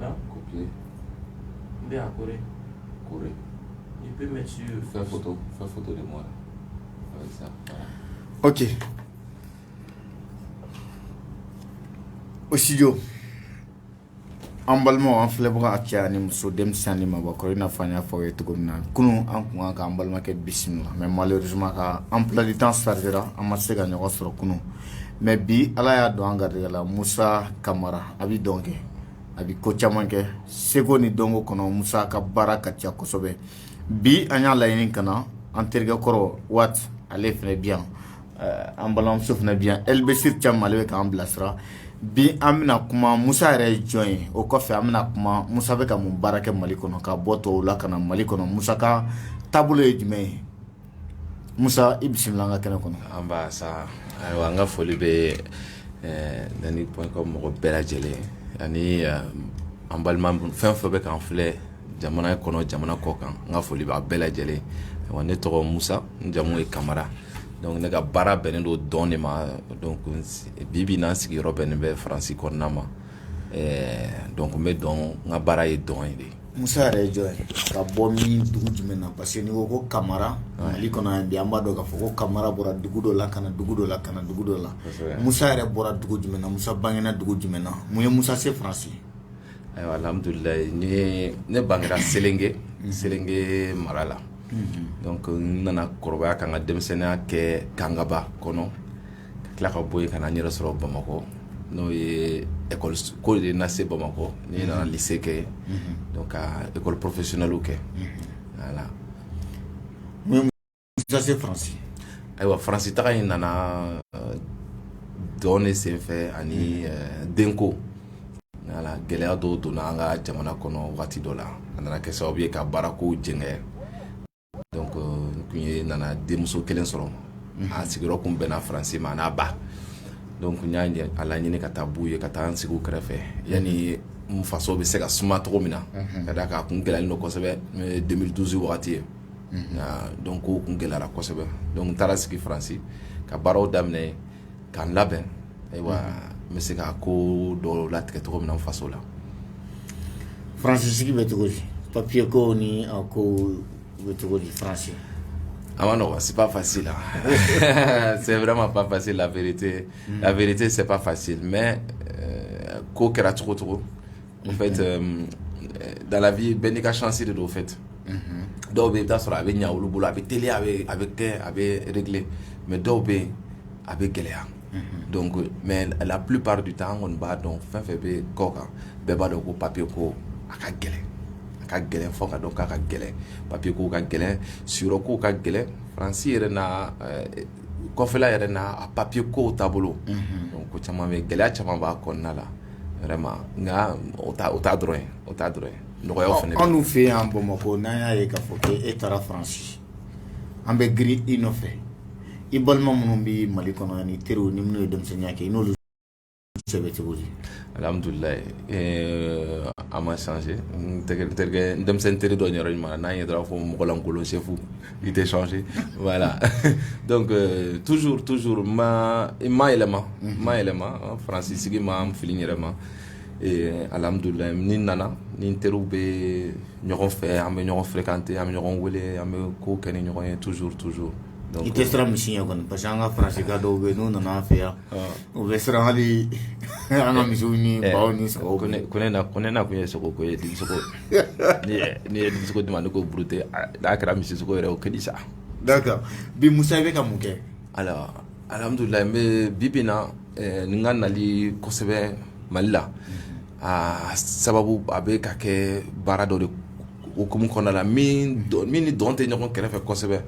Non Copier. Bien, correct. Correct. Il peut mettre sur. Faire photo. Faire photo de moi. Avec ça. Ok. Au studio. an balimaw an filɛbaga a cɛ ani muso denmisɛn ni maabakɔrɔ i n'a fɔ an y'a fɔ aw ye cogo min na kunun an kun kan k'an balimakɛ bisimila mais malheureusement ka emploi du temps chargera an ma se ka ɲɔgɔn sɔrɔ kunun mais bi ala y'a don an garijɛgɛ la musa kamara a bɛ dɔn kɛ a bɛ ko caman kɛ seko ni dɔnko kɔnɔ musa ka baara ka ca kosɛbɛ bi an y'a laɲini ka na an terikɛ kɔrɔ waati ale fana bi yan an balimamuso fana bi yan elbesi cam ale bɛ k'an bilasira bi an bɛna kuma musa yɛrɛ ye jɔn ye o kɔfɛ an bɛna kuma musa bɛ ka mun baara kɛ mali kɔnɔ ka bɔ tɔw la ka na mali kɔnɔ musa ka taabolo ye jumɛn ye Musa i bisimila an ka kɛnɛ kɔnɔ nba sa ayiwa an ka foli bɛ Dani.com mɔgɔ bɛɛ lajɛlen ani an balima fɛn fɛn bɛ k'an filɛ jamana kɔnɔ jamana kɔkan n ka foli b'a bɛɛ lajɛlen wa ne tɔgɔ musa n jamu ye kamara donc ne ka baara bɛnnen don dɔn de ma donc bi bi in na n sigiyɔrɔ bɛnnen bɛ faransi kɔnɔna ma ɛɛ donc n bɛ dɔn n ka baara ye dɔn ye de Musa yɛrɛ ye jɔn ye ka bɔ min dugu jumɛn na parce que n'i ko ko kamara Mali kɔnɔ yan bi an b'a dɔn k'a fɔ ko kamara bɔra dugu dɔ la ka na dugu dɔ la ka na dugu dɔ la kosɛbɛ Musa yɛrɛ bɔra dugu jumɛn na Musa bangera dugu jumɛn na mun ye Musa se Faransi ayiwa alhamdulilahi n ye ne bangera Selenge Selenge mara la donc n nana kɔrɔbaya ka n ka denmisɛnninya kɛ Kangaba kɔnɔ ka tila ka bɔ yen ka na n yɛrɛ sɔrɔ Bamakɔ n'o ye école ko de ye n lase Bamakɔ ne nana lycée kɛ yen donc ka école professionnellew kɛ voilà mun y'i lase Faransi ayiwa Faransi taga in nana dɔn ne sen fɛ ani denko voilà gɛlɛya dɔw donna an ka jamana kɔnɔ wagati dɔ la a nana kɛ sababu ye ka baara kow jɛngɛ Donc euh, n kun ye nana denmuso kelen sɔrɔ a sigiyɔrɔ kun bɛnna faransi ma n'a ba donc n y'a ɲɛ- a laɲini ka taa b'u ye ka taa n sigi u kɛrɛfɛ yanni n faso bɛ se ka suma cogo min na ka d'a kan a kun gɛlɛyalen don kosɛbɛ n'o ye 2012 wagati ye donc kow kun gɛlɛyara kosɛbɛ donc n taara sigi faransi ka baaraw daminɛ yen ka n labɛn ayiwa n bɛ se ka ko dɔ latigɛ tɔgɔ min faso la fransi sigi bɛ cogo papiye ko ni ko bɛ cogo di fransi a ma nɔgɔ seba fasi la sɛ wɛrɛ ma ba fasi late late sep fasi mɛ ko kɛra cogo cogo n fɛ dalabi bɛn n'i ka ssi de don fɛ ten dɔw bɛ da sɔrɔ a bɛ ɲɛ olu bolo a bɛ teli a bɛ a bɛ kɛ a bɛ kelen mɛ dɔw bɛ yen a bɛ gɛlɛya donc mais la plupart du temps an kɔni b'a dɔn fɛn fɛn bɛ kɔkan bɛɛ b'a dɔn ko papiye ko a ka gɛlɛn a ka gɛlɛn fɔ k'a dɔn k'a ka gɛlɛn papiye ko ka gɛlɛn siyɔrɔ ko ka gɛlɛn faransi yɛrɛ na kɔfɛla yɛrɛ na a papiye ko taabolo ko caman bɛ gɛlɛya caman b'a kɔnɔna la vraiment nka o t'a dɔrɔn o t'a dɔrɔn ye nɔgɔya fana bɛ anw fɛ yan bamakɔ n'an y'a ye k'a fɔ e taara faransi an bɛ girin i nɔfɛ i balima minnu bɛ mali kɔnɔ ani i teri ni minnu ye denmisɛnninya kɛ i n'olu cɛ bɛ cogo di alhamdulilayi a ma changé terikɛ denmisɛnnin teri dɔ yɔrɔ ɲuman n'a ye taara fɔ mɔgɔlankolon chef i tɛ changé voilà donc toujours toujours n ma yɛlɛma n ma yɛlɛma faransi sigi ma n fili n yɛrɛ ma Ee alhamdulilayi ni n nana n ni n teriw bɛ ɲɔgɔn fɛ an bɛ ɲɔgɔn fréquenter an bɛ ɲɔgɔn wele an bɛ ko kɛ ni ɲɔgɔn ye toujours toujours i tɛ siran misi ɲɛ kɔni parce que an ka faransika dɔw bɛ yen n'u nana an fɛ yan u bɛ siran hali an ka misiw ni baw ni sagaw ko ne na ko ne nakun ye sogo ko ye n'i ye sogo di n ma ne ko bute n'a kɛra misi sogo yɛrɛ o ka di sa d'accord bi musa i bɛ ka mun kɛ ayiwa alhamdulilayi n bɛ bi bi in na Ni n ka nali kosɛbɛ mali la aa sababu a bɛ ka kɛ baara dɔ de hukumu kɔnɔna la min ni dɔn tɛ ɲɔgɔn kɛrɛfɛ kosɛbɛ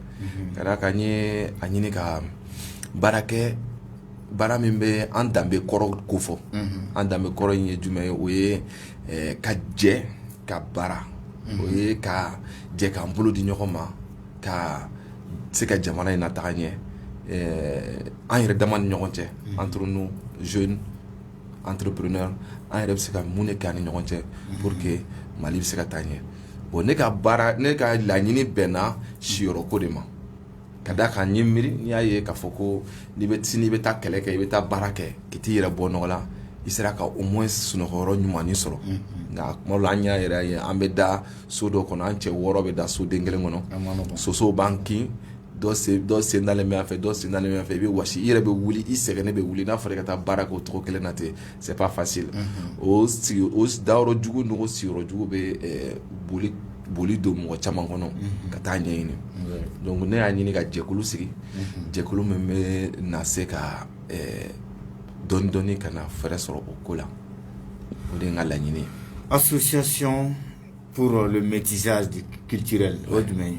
ka d'a kan n ye a ɲini ka baarakɛ baara min bɛ an danbe kɔrɔ ko fɔ an danbe kɔrɔ in ye jumɛn ye o ye ka jɛ ka baara o ye ka jɛ k'an bolo di ɲɔgɔn ma ka se ka jamana in nataga ɲɛ an yɛrɛ dama ni ɲɔgɔn cɛ entre nous jeunes entrepreneurs an yɛrɛ bɛ se ka mun de kɛ an ni ɲɔgɔn cɛ pour que mali bɛ se ka taa ɲɛ bon ne ka baara ne ka laɲini bɛnna siyɔrɔ ko de ma ka d'a kan n ye miiri n'i y'a ye k'a fɔ ko n'i bɛ sini i bɛ taa kɛlɛ kɛ i bɛ taa baara kɛ ka t'i yɛrɛ bɔ nɔgɔ la i sera ka au moins sunɔgɔyɔrɔ ɲuman sɔrɔ nka tuma dɔ la an y'a yɛrɛ ye an bɛ da so dɔ kɔnɔ an cɛ wɔɔrɔ bɛ da soden kelen kɔnɔ sosow b'an kin dɔ sen dalen bɛ yan fɛ dɔ sen dalen bɛ yan fɛ i bɛ wɔsi i yɛrɛ bɛ wuli i sɛgɛnnen bɛ wuli n'a fɔra i ka taa baara kɛ o cogo kelen na ten c'est pas facile o sigi o dayɔrɔ jugu n'o sigiyɔrɔ jugu bɛ boli boli don mɔgɔ caman kɔnɔ ka taa ɲɛɲini donc ne y'a ɲini ka jɛkulu sigi jɛkulu min bɛ na se ka dɔɔni dɔɔni ka na fɛɛrɛ sɔrɔ o ko la o de ye n ka laɲini ye association pour le métissage culturel o ye jumɛn ye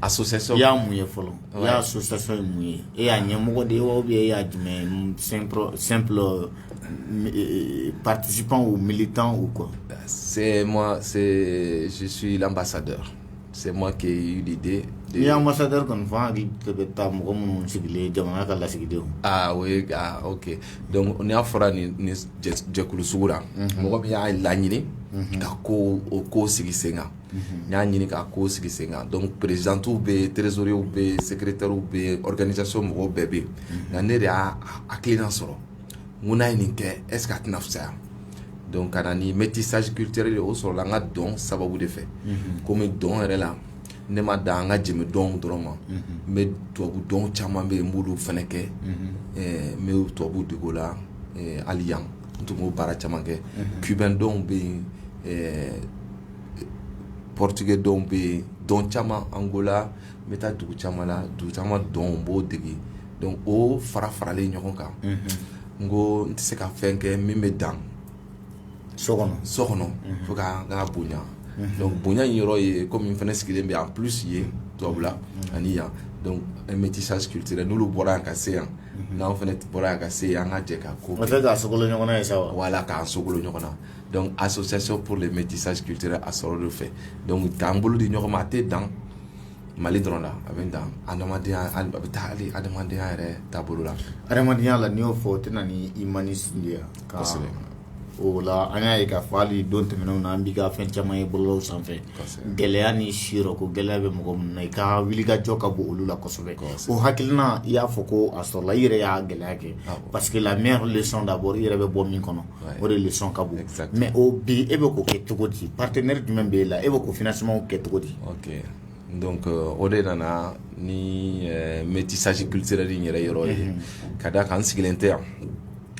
association i y'a mun ye fɔlɔ i y'a association ye mun ye e y'a ɲɛmɔgɔ de ye wa ou bien e y'a jumɛn ye un simple simple participant ou militant ou quoi c'est moi c'est je suis l'ambassadeur C'est moi qui ai eu l'idée de... N'i ye ambassadeur kɔni fɔ, an hakili de bɛ taa mɔgɔ minnu sigilen jamana ka lasigidenw. Aa o ye aa ok donc n'a fɔra nin nin jɛ jɛkulu sugu la. Unhun. Mɔgɔ min y'a laɲini. Unhun. Ka kow o ko sigi sen kan. Unhun. N y'a ɲini ka ko sigi sen kan donc présidentes bɛ yen, trésoriers bɛ yen, secrétaires bɛ yen, organisation mɔgɔw bɛɛ bɛ yen. Unhun. Nka ne de y'a hakilina sɔrɔ. n'an ye nin kɛ est-ce qu'a tɛna fisaya donc ka na ni métissage culturel o sɔrɔla an ka dɔn sababu de fɛ komi dɔn yɛrɛ la ne ma dan an ka jenbe dɔn dɔrɔn ma n bɛ tubabu dɔn caman bɛ yen n b'olu fana kɛ n bɛ tubabu dege o la hali yan n tun b'o baara caman kɛ cubain dɔn bɛ yen portugais dɔn bɛ yen dɔn caman Angola n bɛ taa dugu caman la dugu caman dɔn n b'o dege donc o fara faralen ɲɔgɔn kan n ko n tɛ se ka fɛn kɛ min bɛ dan so kɔnɔ so kɔnɔ fo ka ka bonya donc bonya in yɔrɔ ye komi n fana sigilen bɛ en plus yen tubabu la ani yan métissage culturel n'olu bɔra yan ka se yan n'an fana bɔra yan ka se yan an ka jɛ ka ko kɛ o tɛ k'a sogolo ɲɔgɔn na ye sa wa voilà k'an sogolo ɲɔgɔn na donc association pour le métissage culturel a sɔrɔ de fɛ donc k'an bolo di ɲɔgɔn ma a tɛ dan mali dɔrɔn la a bɛ dan adamadenya a bɛ taa hali adamadenya yɛrɛ taabolo la adamadenya la n'i y'o fɔ o tɛ na ni humanisme de ye kosɛbɛ o la an y'a ye k'a fɔ hali don tɛmɛnenw na an b'i ka fɛn caman ye bɔlɔlɔw sanfɛ gɛlɛya ni siyɔrɔ ko gɛlɛya bɛ mɔgɔ minnu na i ka wulikajɔ ka bon olu la kosɛbɛ o hakilina i y'a fɔ ko a sɔrɔla i yɛrɛ y'a gɛlɛya kɛ parce que la meilleure leçon d'abord i yɛrɛ bɛ bɔ min kɔnɔ o de leçon ka bon mais o bi e bɛ k'o kɛ cogo di partenaire jumɛn bɛ e la e bɛ k'o financement kɛ cogo di ok donc o de nana ni métissage culturel nin yɛrɛ yɔrɔ ye ka d'a kan n sigilen tɛ yan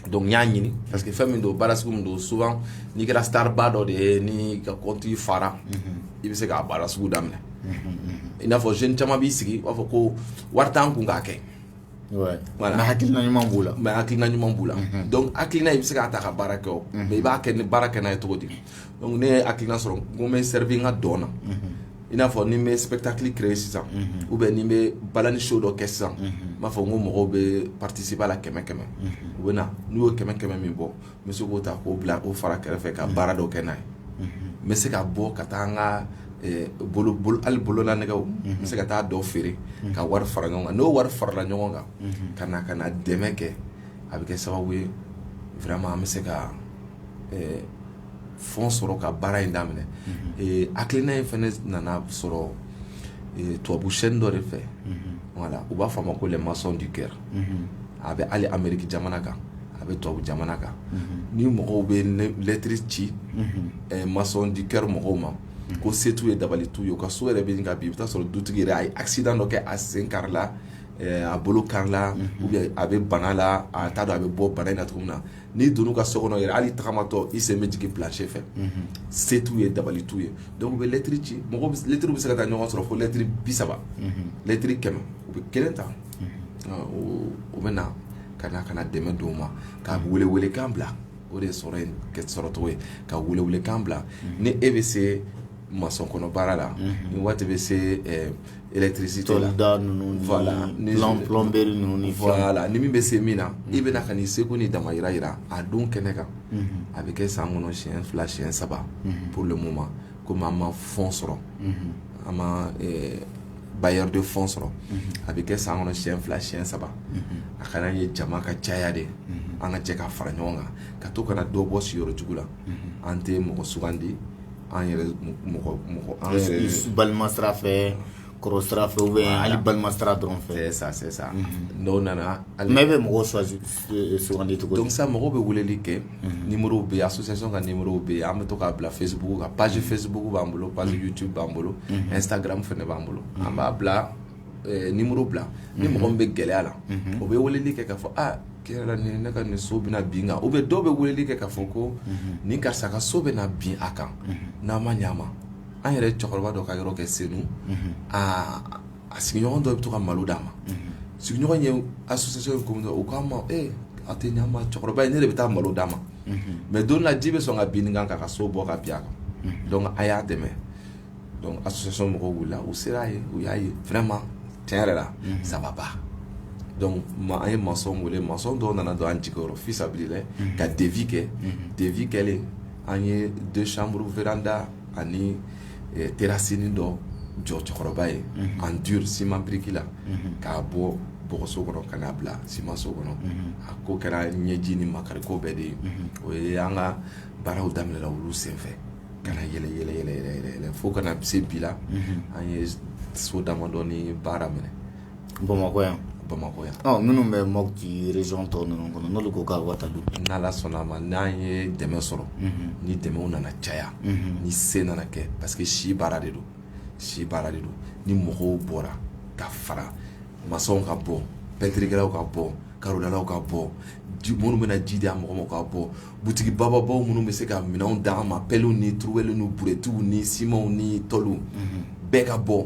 donc n y'a ɲini parce que fɛn min don baara sugu min don souvent n'i kɛra star ba dɔ de ye n'i ka compte fara i bɛ se k'a baara sugu daminɛ i n'a fɔ jeunes caman b'i sigi u b'a fɔ ko wari t'an kun k'a kɛ hakilina ɲuman b'o la mais hakilina ɲuman b'u la donc hakilina i bɛ se k'a ta ka baara kɛ o mais i b'a kɛ ni baara kɛ n'a ye cogo di donc ne ye hakilina sɔrɔ n ko n bɛ servir n ka dɔn na i n'a fɔ ni n bɛ spectacle créer sisan ou bien ni n bɛ balani show dɔ kɛ sisan n b'a fɔ ko mɔgɔw bɛ participer a la kɛmɛ kɛmɛ u bɛ na n'u y'o kɛmɛ kɛmɛ min bɔ n bɛ se k'o ta k'o bila o fara kɛrɛfɛ ka baara dɔ kɛ n'a ye n bɛ se ka bɔ ka taa n ka hali bololanɛgɛ n bɛ se ka taa dɔ feere ka wari fara ɲɔgɔn kan n'o wari farala ɲɔgɔn kan ka na ka na dɛmɛ kɛ a bɛ kɛ sababu ye vraiment an bɛ se ka fonds sɔrɔ ka baara in daminɛ hakilina in fana nana sɔrɔ tubabu chaîne dɔ de fɛ voilà u b'a fɔ a ma ko les maçons du cœur a bɛ hali Amérique jamana kan a bɛ tubabu jamana kan ni mɔgɔw bɛ lɛtiri ci maçon du cœur mɔgɔw ma ko se t'u ye dabali t'u ye u ka so yɛrɛ bɛ ka bin i bɛ taa sɔrɔ dutigi yɛrɛ a ye accident dɔ kɛ a sen karila a bolo karila a bɛ bana la a t'a dɔn a bɛ bɔ bana in na cogo min na n'i donn'u ka so kɔnɔ yɛrɛ hali tagamatɔ i sen bɛ jigin plancher fɛ se t'u ye dabali t'u ye donc u bɛ lɛtiri ci mɔgɔ lɛtiri bɛ se ka taa ɲɔgɔn sɔrɔ fo lɛtiri bi saba lɛtiri kɛmɛ u bɛ kelen ta u bɛ na ka na ka na dɛmɛ d'o ma ka welewelekan bila o de sɔrɔcogo ye ka welewelekan bila ni e bɛ se maçon kɔnɔ baara la ni waati bɛ se électricité la ni min bɛ se min na i bɛ na ka n'i seko ni damajira jira a don kɛnɛ kan a bɛ kɛ san kɔnɔ siyɛn fila siyɛn saba pour le moment komi an ma fonds sɔrɔ an ma bailleur de fonds sɔrɔ a bɛ kɛ san kɔnɔ siyɛn fila siyɛn saba a kana ye jama ka caya de an ka jɛ ka fara ɲɔgɔn kan ka to ka na dɔ bɔ siyɔrɔ jugu la an tɛ mɔgɔ sugandi an yɛrɛ balima sira fɛ kɔrɔ sira fɛ ou bien hali balima sira dɔrɔn fɛ c'est ça c'est ça unhun n'o nana mais e be mɔgɔw choisi e e sugandi cogo di donc sisan mɔgɔw be weleli kɛ unhun numérow be yen association ka numérow be yen an be to k'a bila Facebook kan page Facebook b'an bolo page YouTube b'an bolo Instagram fɛnɛ b'an bolo an b'a bila ɛɛ numéro bila ni mɔgɔ min be gɛlɛya la o be weleli kɛ k'a fɔ a tiɲɛ la nin ne ka nin so bɛna bin kan ou bien dɔw be weleli kɛ k'a fɔ ko nin karisa ka so bɛna bin a kan n'a ma ɲ'a ma an yɛrɛ cɛkɔrɔba dɔ ka yɔrɔ kɛ senu aa a sigiɲɔgɔn dɔ bɛ to ka malo d'a ma sigiɲɔgɔn ye association ye ko u k'a ma ee a tɛ ɲama cɛkɔrɔba ye ne de bɛ taa malo d'a ma mais don la ji bɛ sɔn ka bin kan k'a ka so bɔ ka bin a kan a y'a dɛmɛ association mɔgɔw wilila u sera yen u y'a ye vraiment tiɲɛ yɛrɛ la ça va pas donc an ye maçon wele maçon dɔw nana don an jigi fisabilillahi ka devis kɛ devis kɛlen an ye deux chambres véranda ani terasinin dɔ jɔ cɛkɔrɔba ye en dur siman biriki la k'a bɔ bɔgɔso kɔnɔ ka n'a bila simanso kɔnɔ a ko kɛra ɲɛji ni makari ko bɛɛ de ye o ye an ka baaraw daminɛla olu senfɛ ka na yɛlɛ fo ka na se bi la an ye so damadɔnin baara minɛ bamakɔ yan bamakɔ yan minnu bɛ Mopti région tɔw ninnu kɔnɔ n'olu ko ka wata don n'Ala sɔnna a ma n'an ye dɛmɛ sɔrɔ ni dɛmɛ nana caya ni se nana kɛ parce que si baara de don si baara de don ni mɔgɔw bɔra ka fara maçonw ka bɔ pɛntiriw ka bɔ karodalaw ka bɔ ji minnu bɛna ji di mɔgɔ ma ka bɔ butigi bababaw minnu bɛ se ka minɛn d'an ma pɛliw ni turuwɛli ni buruwɛtiw ni simanw ni tɔliw bɛɛ ka bɔ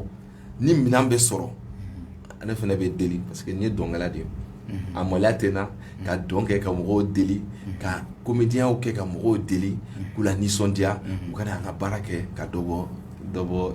ni minɛn bɛ sɔrɔ ne fana bɛ deli parce que n ye dɔnkɛla de ye a maloya tɛ n na ka dɔn kɛ ka mɔgɔw deli ka comédienw kɛ ka mɔgɔw deli k'u la nisɔndiya u kana an ka baara kɛ ka dɔ bɔ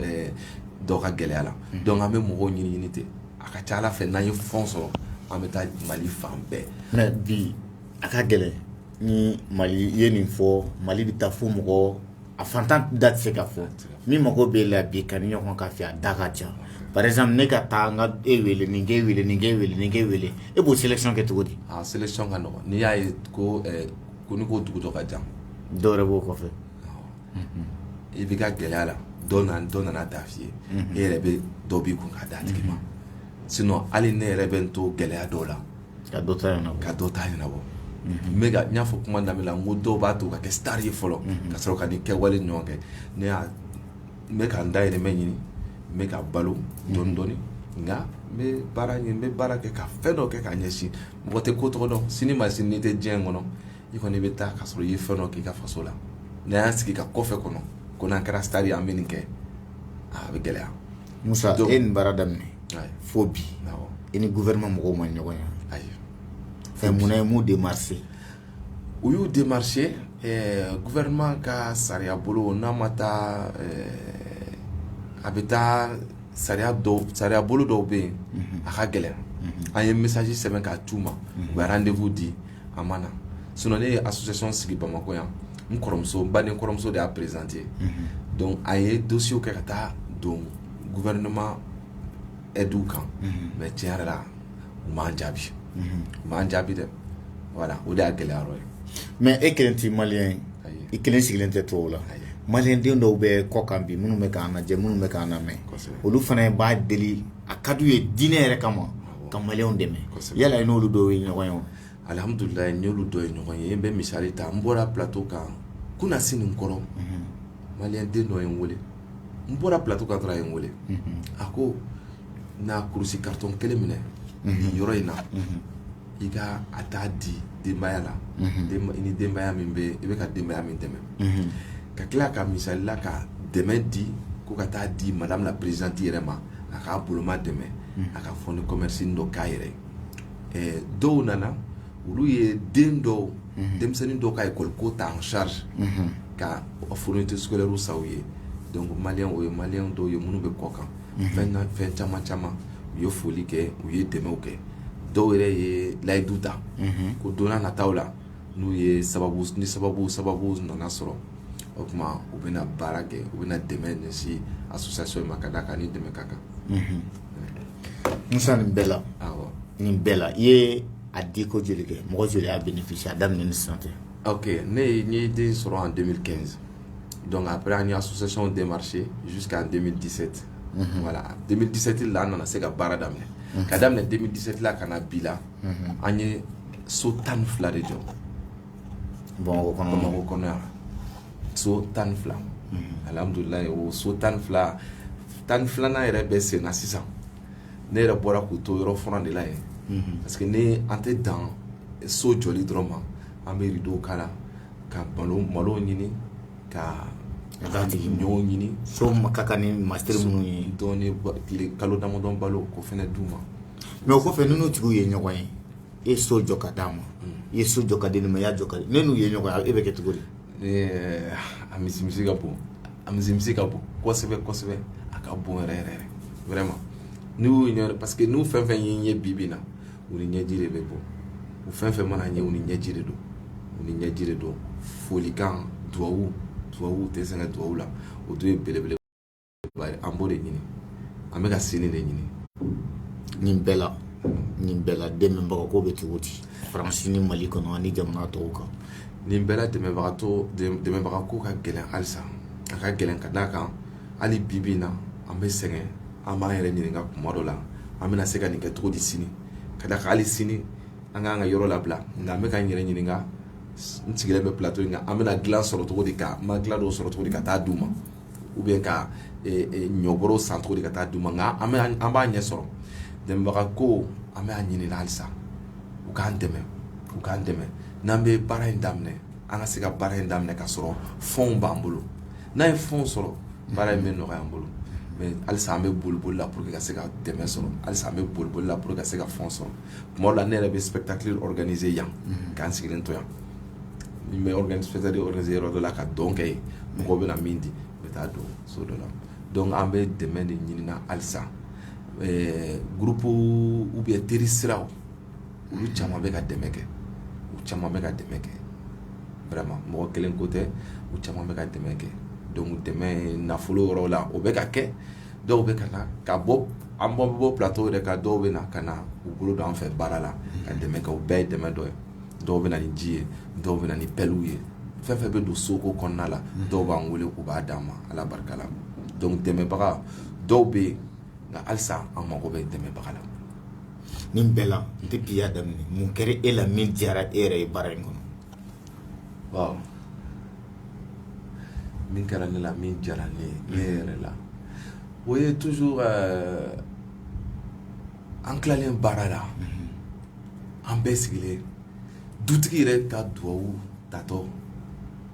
dɔ ka gɛlɛya la donc an bɛ mɔgɔw ɲini ɲini ten a ka ca ala fɛ n'an ye fonds sɔrɔ an bɛ taa mali fan bɛɛ mais bi a ka gɛlɛn ni mali i ye nin fɔ mali bɛ taa fo mɔgɔ a fantan da tɛ se ka fɔ min mago b'e la bi ka nin ɲɔgɔn k'a fɛ a da ka ca par exemple ne ka taa nin k'e wele nin k'e wele e b'o sélection kɛ cogo di sélection ka nɔgɔ n'i y'a ye ko n ko dugu dɔ ka jan dɔw yɛrɛ b'o kɔfɛ i b'i ka gɛlɛya la dɔ nana a ta f'i ye e yɛrɛ bɛ dɔ b'i kun k'a d'a tigi ma sinon hali ne yɛrɛ bɛ n to gɛlɛya dɔw la ka dɔ ta ɲɛnabɔ n y'a fɔ kuma daminɛ la n ko dɔw b'a to ka kɛ star ye fɔlɔ ka sɔrɔ ka nin kɛwale ɲɔgɔn kɛ ne y'a n bɛ ka n dahirimɛ ɲini n bɛ ka balo dɔɔni dɔɔni nka n bɛ baara ɲini n bɛ baara kɛ ka fɛn dɔ kɛ k'a ɲɛsin mɔgɔ tɛ ko tɔgɔ dɔn sini ma sini n'i tɛ diɲɛ in kɔnɔ i kɔni bɛ taa ka sɔrɔ i ye fɛn dɔ k'i ka faso la n'an y'an sigi ka kɔfɛ kɔnɔ ko n'an kɛra star ye an bɛ nin kɛ a bɛ gɛlɛya Musa e nin baara daminɛ fo bi i ni gouvernement mɔgɔw ma ɲɔgɔn ye ayi fɛn munna e m'u démarché u y'u démarché gouvernement ka sariya bolo n'a ma taa a bɛ taa sariya bolo dɔw bɛ yen a ka gɛlɛn an ye message sɛbɛn k'a d'u ma u bɛ rendez-vous di a ma na sun ne ye a susisonon sigi bamakɔ yan n kɔrɔmuso ba ni kɔrɔmuso de y'a perezte dɔnku a ye donso kɛ ka taa don gufɛinma du kan mɛ tiɲɛ yɛrɛ la u ma jaabi ma jaabi dɛ wala o de y'a gɛlɛya ye mɛ e kelen tɛ mali ye i kelen sigilen tɛ to la mali den dɔw bɛ kɔ kan bi minnu bɛ' jɛ minnu bɛ' mɛn olu fana b'a deli a ka d'u ye diinɛ yɛrɛ kama ka malienw dɛmɛ yala i n'olu dɔw ye ɲɔgɔn ye wa alhamdulilayi n n'olu dɔ ye ɲɔgɔn ye n bɛ misali ta n bɔra plateau kan kunasinin kɔrɔ malien den dɔ ye n weele n bɔra plateau kan dɔrɔn a ye n weele a ko na kurusi carton kelen minɛ nin yɔrɔ in na i ka taa a di denbaya la i ni denbaya min bɛ i bɛ ka denbaya min dɛmɛ ka tila ka misali la ka dɛmɛ di ko ka taa di madame la présidente yɛrɛ ma a k'a boloma dɛmɛ a ka fonds de commerce dɔ k'a yɛrɛ ye dɔw nana olu ye den dɔw denmisɛnnin dɔw ka école ko ta en charge ka fourniture scolaire san u ye malien o ye malien dɔw ye minnu bɛ kɔkan fɛn ka fɛn caman caman u ye foli kɛ u ye dɛmɛw kɛ dɔw yɛrɛ ye layidu ta ko don nataw la n'u ye sababu ni sababu sababu nana sɔrɔ o tuma u bɛna baara kɛ u bɛna dɛmɛ ɲɛsin association ma ka d'a kan ni dɛmɛ ka kan musa nin bɛɛ la nin bɛɛ la i ye a di ko joli kɛ mɔgɔ joli y'a bénéficié a daminɛ ni sisan tɛ Ɔke ne ye n ye den sɔrɔ an denmisɛnnin kɛ dɔnku a bɛ an y'a sɔsɛw den marisi su k'an denmisɛnnin disɛti wala denmisɛnnin disɛti la an nana se ka baara daminɛ ka daminɛ denmisɛnnin disɛti la ka na bi la an ye so tan ni fila de jɔ bamakɔ bamakɔ kɔnɔ yan so tan ni fila alimdula o so tan ni fila tan ni filanan yɛrɛ bɛ sen na sisan ne yɛrɛ bɔra k'u to yɔrɔ fɔlɔ de la yen parce que ne an tɛ dan so jɔli dɔrɔn ma an bɛ rideau kala ka malo malo ɲini ka tiga ɲɔ ɲini so ka kan ni masiri minnu ye dɔɔni tile kalo damadɔn balo k'o fɛnɛ d'u ma mais o kɔfɛ ninnu tigiw ye ɲɔgɔn ye e so jɔ ka d'a ma i ye so jɔ ka di nin ma i y'a jɔ ka di ne n'u ye ɲɔgɔn ye e bɛ kɛ cogo di a misi misi ka bon a misi misi ka bon kosɛbɛ kosɛbɛ a ka bon yɛrɛ yɛrɛ vraiment n'u y'u ɲɛ parce que n'u fɛn fɛn ye n ye bibi na u ni ɲɛji de bɛ bɔ u fɛn fɛn mana n ye u ni ɲɛji de don u ni ɲɛji de don folikan duwawu duwawu tɛ sɛgɛn duwawu la o dun ye belebele an b'o de ɲini an bɛ ka sini de ɲini nin bɛɛ la nin bɛɛ la dɛmɛbagaw ko bɛ cogo di faransi ni mali kɔnɔ ani jamana tɔw kan nin bɛɛ dɛmɛbaga ko dɛmɛbaga ko ka gɛlɛn halisa a ka gɛlɛn ka d'a kan hali bibi na an bɛ sɛgɛn an b'an yɛrɛ ɲininka tuma dɔ la an bɛna se ka nin kɛ cogo di sini ka d'a kan hali sini an k'an ka yɔrɔ labila nka an bɛ k'an yɛrɛ ɲininka n sigilen bɛ plateau in kan an bɛna dilan sɔrɔ cogo di ka matela dɔw sɔrɔ cogo di ka taa d'u ma ou bien ka ɲɔbɔrɔ san cogo di ka taa d'u ma an b'a ɲɛ sɔrɔ dɛmɛbaga ko an b'a ɲini halisa u k'an dɛmɛ u k'an dɛmɛ n'an bɛ baara in daminɛ an ka se ka baara in daminɛ ka sɔrɔ fɔnw b'an bolo n'an ye fɔn sɔrɔ baara in bɛ nɔgɔya an bolo halisa an bɛ boli boli la ka se ka dɛmɛ sɔrɔ halisa an bɛ boli boli la ka se ka fɔn sɔrɔ tuma dɔ la ne yɛrɛ bɛ spectacle organiser yan k'an sigilen to yan n bɛ spectacle organiser yɔrɔ dɔ la ka dɔn kɛ yen mɔgɔw bɛ na min di n bɛ taa don so dɔ la donc an bɛ dɛmɛ de ɲinina halisa ɛɛ groupe ou bien teri siraw olu caman bɛ ka dɛmɛ kɛ u caman bɛ ka dɛmɛ kɛ vraiment mɔgɔ kelen ko tɛ u caman bɛ ka dɛmɛ kɛ donc dɛmɛ nafolo yɔrɔ la o bɛ ka kɛ dɔw bɛ ka na ka bɔ an bɔ bɛ bɔ plateau yɛrɛ kan dɔw bɛ na ka na u bolo don an fɛ baara la ka dɛmɛ kɛ o bɛɛ ye dɛmɛ dɔ ye dɔw bɛ na ni ji ye dɔw bɛ na ni pɛliw ye fɛn fɛn bɛ don soko kɔnɔna la dɔw b'an wele k'u b'a d'an ma ala barika la donc dɛmɛbaga dɔw bɛ yen nka halisa an mago bɛ dɛmɛbaga la nin bɛɛ la depuis i y'a daminɛ mun kɛra e la min diyara e yɛrɛ ye baara in kɔnɔ waaw min kɛra ne la min diyara ne ye ne yɛrɛ la o ye toujours euh, an tilalen baara la an bɛɛ sigilen dutigi yɛrɛ ka dugawu tatɔ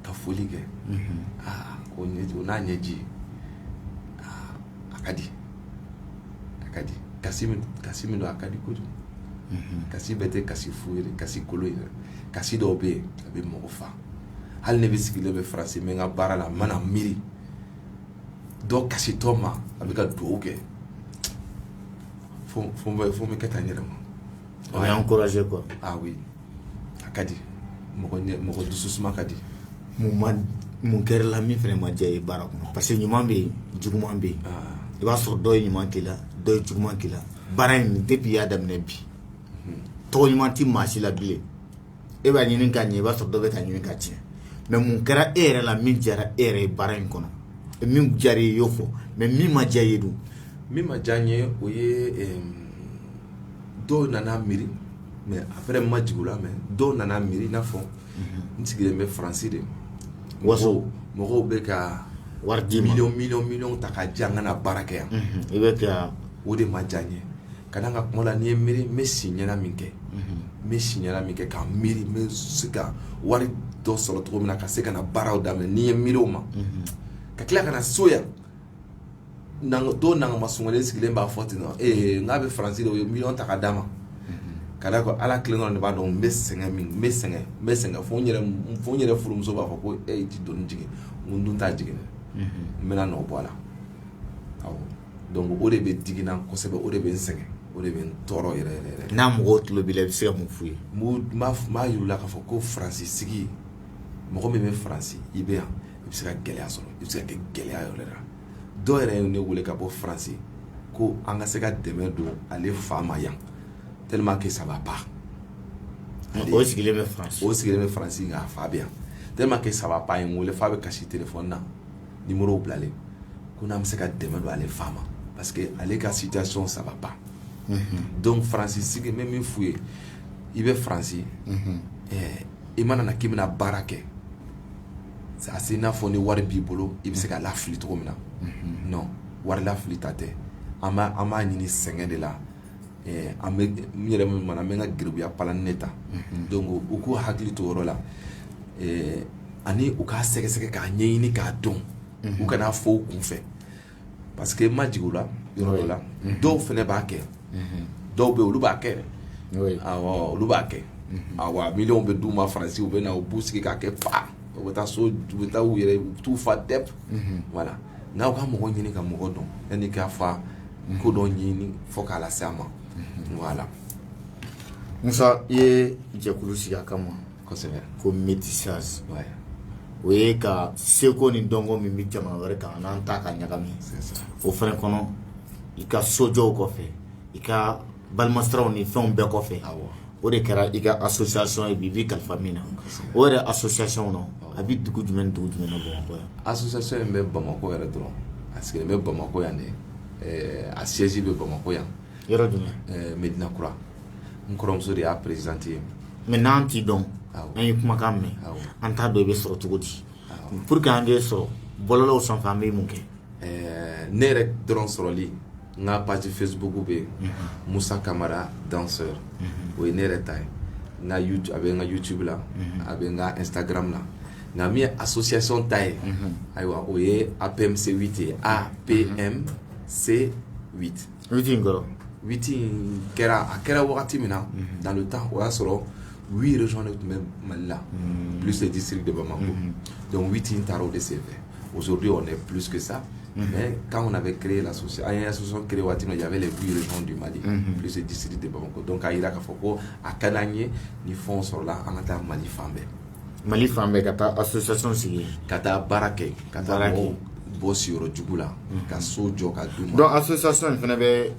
ka foli kɛ aa o n'a ɲɛji a ka di a ka di kasi kasi min don a ka di kojugu kasi bɛɛ tɛ kasi fu ye kasi kolon ye kasi dɔw bɛ yen a bɛ mɔgɔ fa hali ne bɛ sigilen bɛ faransi n bɛ n ka baara la n mana miiri dɔ kasitɔ ma a bɛ ka dugawu kɛ bɛ kɛ tan n yɛrɛ ma o y'an encouragé quoi a a ka di mɔgɔ dusu suma ka di mun kɛra e la min fana ma diya i ye baara kɔnɔ parce que ɲuman bɛ yen juguman bɛ yen i b'a sɔrɔ dɔ ye ɲuman k'i la dɔ ye juguman k'i la baara in depuis i y'a daminɛ bi tɔgɔ ɲuman tɛ maa si la bilen e b'a ɲini k'a ɲɛ i b'a sɔrɔ dɔ bɛ k'a ɲini k'a tiɲɛ mais mun kɛra e yɛrɛ la min diyara e yɛrɛ ye baara in kɔnɔ min diyara i y'o fɔ mais min ma diya i ye dun min ma diya n ye o ye dɔw nana miiri mais après ma jigin o la mais dɔw nana miiri i n'a fɔ n sigilen bɛ faransi de waso mɔgɔw bɛ ka wari di mi mi miliyɔn ta ka di an ka na baara kɛ yan i bɛ o de ma diya n ye Ka da n ka kuma la n'i ye miiri n bɛ si ɲɛna min kɛ, unhun, n bɛ si ɲɛna min kɛ ka miiri n bɛ se ka wari dɔ sɔrɔ cogo min na ka se ka na baaraw daminɛ n'i ye miiri o ma, unhun, ka tila ka na so yan dɔw nangama sunɔgɔlen sigilen b'a fɔ ten non ee n k'a bɛ faransi de u ye miliyɔn ta ka d'a ma, unhun, ka d'a kan Ala kelen dɔrɔn de b'a dɔn n bɛ sɛgɛn min n bɛ sɛgɛn n bɛ sɛgɛn fo n yɛrɛ fo n yɛrɛ furumuso b'a fɔ ko e tɛ doni jigin n ko n dun t'a jigin dɛ, unhun, n bɛna nɔ bɔ a la, awɔ donc o de bɛ digi n na kosɛbɛ o de bɛ n sɛgɛn o de bɛ n tɔɔrɔ yɛrɛ yɛrɛ yɛrɛ n'a mɔgɔw tulo b'i la i bɛ se ka mun f'u ye n b'u- n b'a f- n b'a yir'u la k'a fɔ ko faransi sigi mɔgɔ min bɛ faransi i bɛ yan i bɛ se ka gɛlɛya sɔrɔ i bɛ se ka kɛ gɛlɛya yɛrɛ la dɔ yɛrɛ ye ne wele ka bɔ faransi ko an ka se ka dɛmɛ don ale fa ma yan tellement que ça va pas Ale- o sigilen bɛ faransi o sigilen bɛ faransi nka a fa bɛ yan tellement que ça va pas ye n wele f'a bɛ kasi telefɔni na nimɔrɔ bilalen ko n'an bɛ se ka dɛmɛ don ale fa ma parce que ale ka situation ça va pas donc faransi sigi n bɛ min f'u ye i bɛ faransi i mana na k'i bɛna baara kɛ a se n'a fɔ ni wari b'i bolo i bɛ se ka lafili cogo min na non wari lafili ta tɛ an b'a ɲini sɛgɛn de la an bɛ n yɛrɛ min mana an bɛ ka garibuya palan ne ta donc u k'u hakili to yɔrɔ la ani u k'a sɛgɛsɛgɛ k'a ɲɛɲini k'a dɔn u kan'a fɔ u kun fɛ parce que i ma jigin u la yɔrɔ la dɔw fana b'a kɛ dɔw bɛ olu b'a kɛ olu b'a kɛ miliyɔn bɛ d'u ma faransi u bɛ na u b'u sigi k'a kɛ fa u bɛ taa so u bɛ taa u yɛrɛ t'u fa dɛ voilà n'aw ka mɔgɔ ɲini ka mɔgɔ dɔn yanni k'a fɔ ko dɔ ɲini fo k'a lase an ma voilà musa i ye jɛkulu sigi a kama kosɛbɛ ko métissage o ye ka seko ni dɔnko min bɛ jamana wɛrɛ kan an'an ta ka ɲagami o fɛnɛ kɔnɔ i ka sojɔw kɔfɛ i ka balimasiraw ni fɛnw bɛɛ kɔfɛ o de kɛra i ka association ye bi b'i kalifa min na o yɛrɛ association kɔnɔ a bɛ dugu jumɛn ni dugu jumɛn na Bamakɔ yan association in bɛ Bamakɔ yɛrɛ dɔrɔn a sigilen bɛ Bamakɔ yan de eh, a siège bɛ Bamakɔ yan yɔrɔ jumɛn eh, Medina Kura n kɔrɔmuso de y'a présidente ye mais n'an t'i dɔn an ye kumakan mɛn an t'a dɔn i bɛ sɔrɔ cogo di pour que an k'e sɔrɔ bɔlɔlɔw sanfɛ an bɛ mun kɛ eh, ne yɛrɛ dɔrɔn sɔrɔli n ka page facebook bɛ yen musa kamara danseur o ye ne yɛrɛ ta ye n ka youtube a bɛ n ka youtube la a bɛ n ka instagram la nka min ye association ta ye ayiwa o ye apmc 8 ye apmc 8 huit in kɔrɔ huit in kɛra a kɛra wagati min na dans le temps o y'a sɔrɔ huit régions de tun bɛ mali la plus le district de bamako donc huit in taara o de senfɛ Aujourd'hui, on est plus que ça. Mhm. Mais quand on avait créé l'association, an y'a créé waati min, il y avait les huit régions du Mali, mhm. plus le district de Bamako. Donc, a yira k'a fɔ ko a ka d'an ye ni fɛnw sɔrɔla an ka taa Mali fan bɛɛ. Mali fan bɛɛ ka taa association sigi. Ka taa baara kɛ, ka taa mɔgɔw bɔ siyɔrɔ jugu la, mhm. ka so jɔ ka d'u ma. Donc association in fana bɛ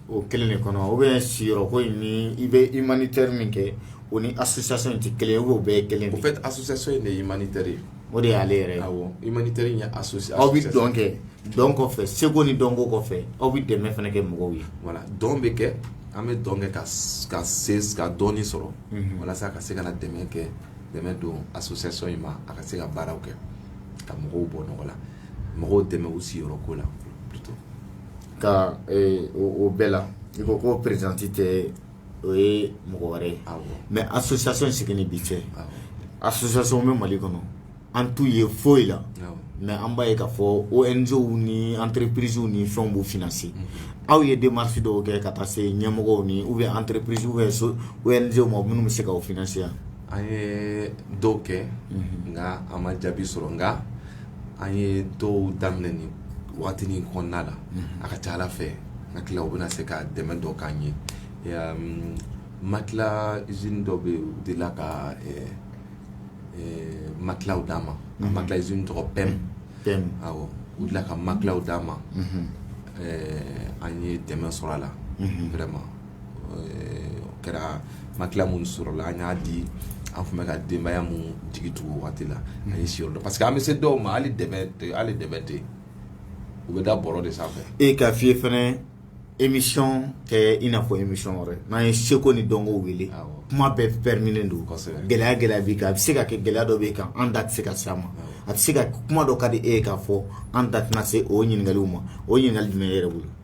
o kelen de kɔnɔ ou bien siyɔrɔko in ni i bɛ humanitaire min kɛ o ni association in tɛ kelen ye ou bien o bɛɛ ye kelen de ye. Au fait association in de ye humanitaire ye. o de y'ale yɛrɛ ye humanitaire in ye association aw bɛ dɔn kɛ dɔn kɔfɛ seko ni dɔnko kɔfɛ aw bɛ dɛmɛ fana kɛ mɔgɔw ye voilà dɔn bɛ kɛ an bɛ dɔn kɛ ka dɔɔnin sɔrɔ walasa a ka se ka na dɛmɛ kɛ dɛmɛ don association in ma a ka se ka baaraw kɛ ka mɔgɔw bɔ nɔgɔ la mɔgɔw dɛmɛ u siyɔrɔ ko la plutôt ka o bɛɛ la i ko ko présidente tɛ o ye mɔgɔ wɛrɛ ye mɛ a susaso in sigi ni bi cɛ a susaso bɛ mali kɔnɔ an t'u ye foyi la mɛ an b'a ye ka fɔ o nizw ni an terirri perezw ni fɛn b'u fna se aw ye den masi dɔw kɛ ka taa se ɲɛmɔgɔ ni u bɛ an terirepsi bɛ so o ye n ma minnu bɛ se k' f yan an ye dɔw kɛ nka an ma jaabi sɔrɔ nka an ye dɔw daminɛ ni waati nin kɔnɔna la a ka ca ala fɛ n hakili la u bɛna se ka dɛmɛ dɔ k'an ye matelas usine dɔ bɛ yen u delila ka matelasw d'an ma matelas usine tɔgɔ PEM u delila ka matelasw d'an ma an ye dɛmɛ sɔrɔ a la vraiment o kɛra matelas minnu sɔrɔla an y'a di an tun bɛ ka denbaya minnu jigi tugu waati la a ye si parce que an bɛ se dɔw ma hali hali dɛbɛn tɛ u bɛ da bɔrɔ de sanfɛ e k'a f'i ye fanɛ émission tɛ i n'a fɔ émission wɛrɛ n'an ye seko ni dɔnko wele kuma bɛɛ permilen don gɛlɛya gɛlɛya b'i kan a bɛ se ka kɛ gɛlɛya dɔ b'i kan an da tɛ se ka s'a ma a bɛ se ka kuma dɔ ka di e ye k'a fɔ an da tɛna se o ɲininkali ma o ɲininkali jumɛn yɛrɛ bolo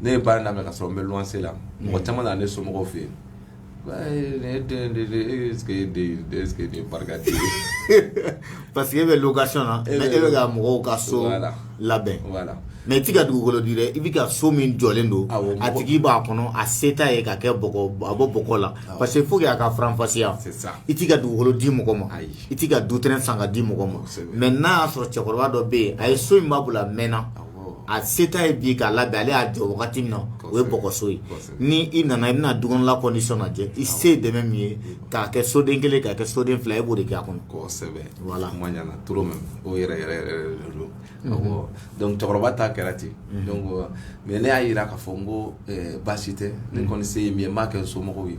ne ye baara daminɛ ka sɔrɔ n bɛ luwanse la mɔgɔ caman na ne somɔgɔw fɛ yen ne den de de e est-ce que e den est ce que nin ye barika den ye parce que e bɛ location na e bɛ ka mɔgɔw ka so labɛn voilà mais i ti ka dugukolo di dɛ i bi ka so min jɔlen don a tigi b'a kɔnɔ a se t'a ye k'a kɛ bɔgɔ a bɔ bɔgɔ la parce que faut que an k'a faranfasiya i ti ka dugukolo di mɔgɔ ma i ti ka du terrain san ka di mɔgɔ ma mais n'a y'a sɔrɔ cɛkɔrɔba dɔ bɛ yen a ye so in b'a bolo a mɛnna a se t'a ye bi k'a labɛn ale y'a jɔ wagati min na o ye bɔgɔso ye ni i nana i bɛna dukɔnɔla condition lajɛ i se ye dɛmɛ min ye k'a kɛ soden kelen k'a kɛ soden fila e b'o de kɛ a kɔnɔ cɛkɔrɔba ta kɛra ten mais ne y'a yira k'a fɔ n ko baasi tɛ ne kɔni se ye min ye n b'a kɛ somɔgɔw ye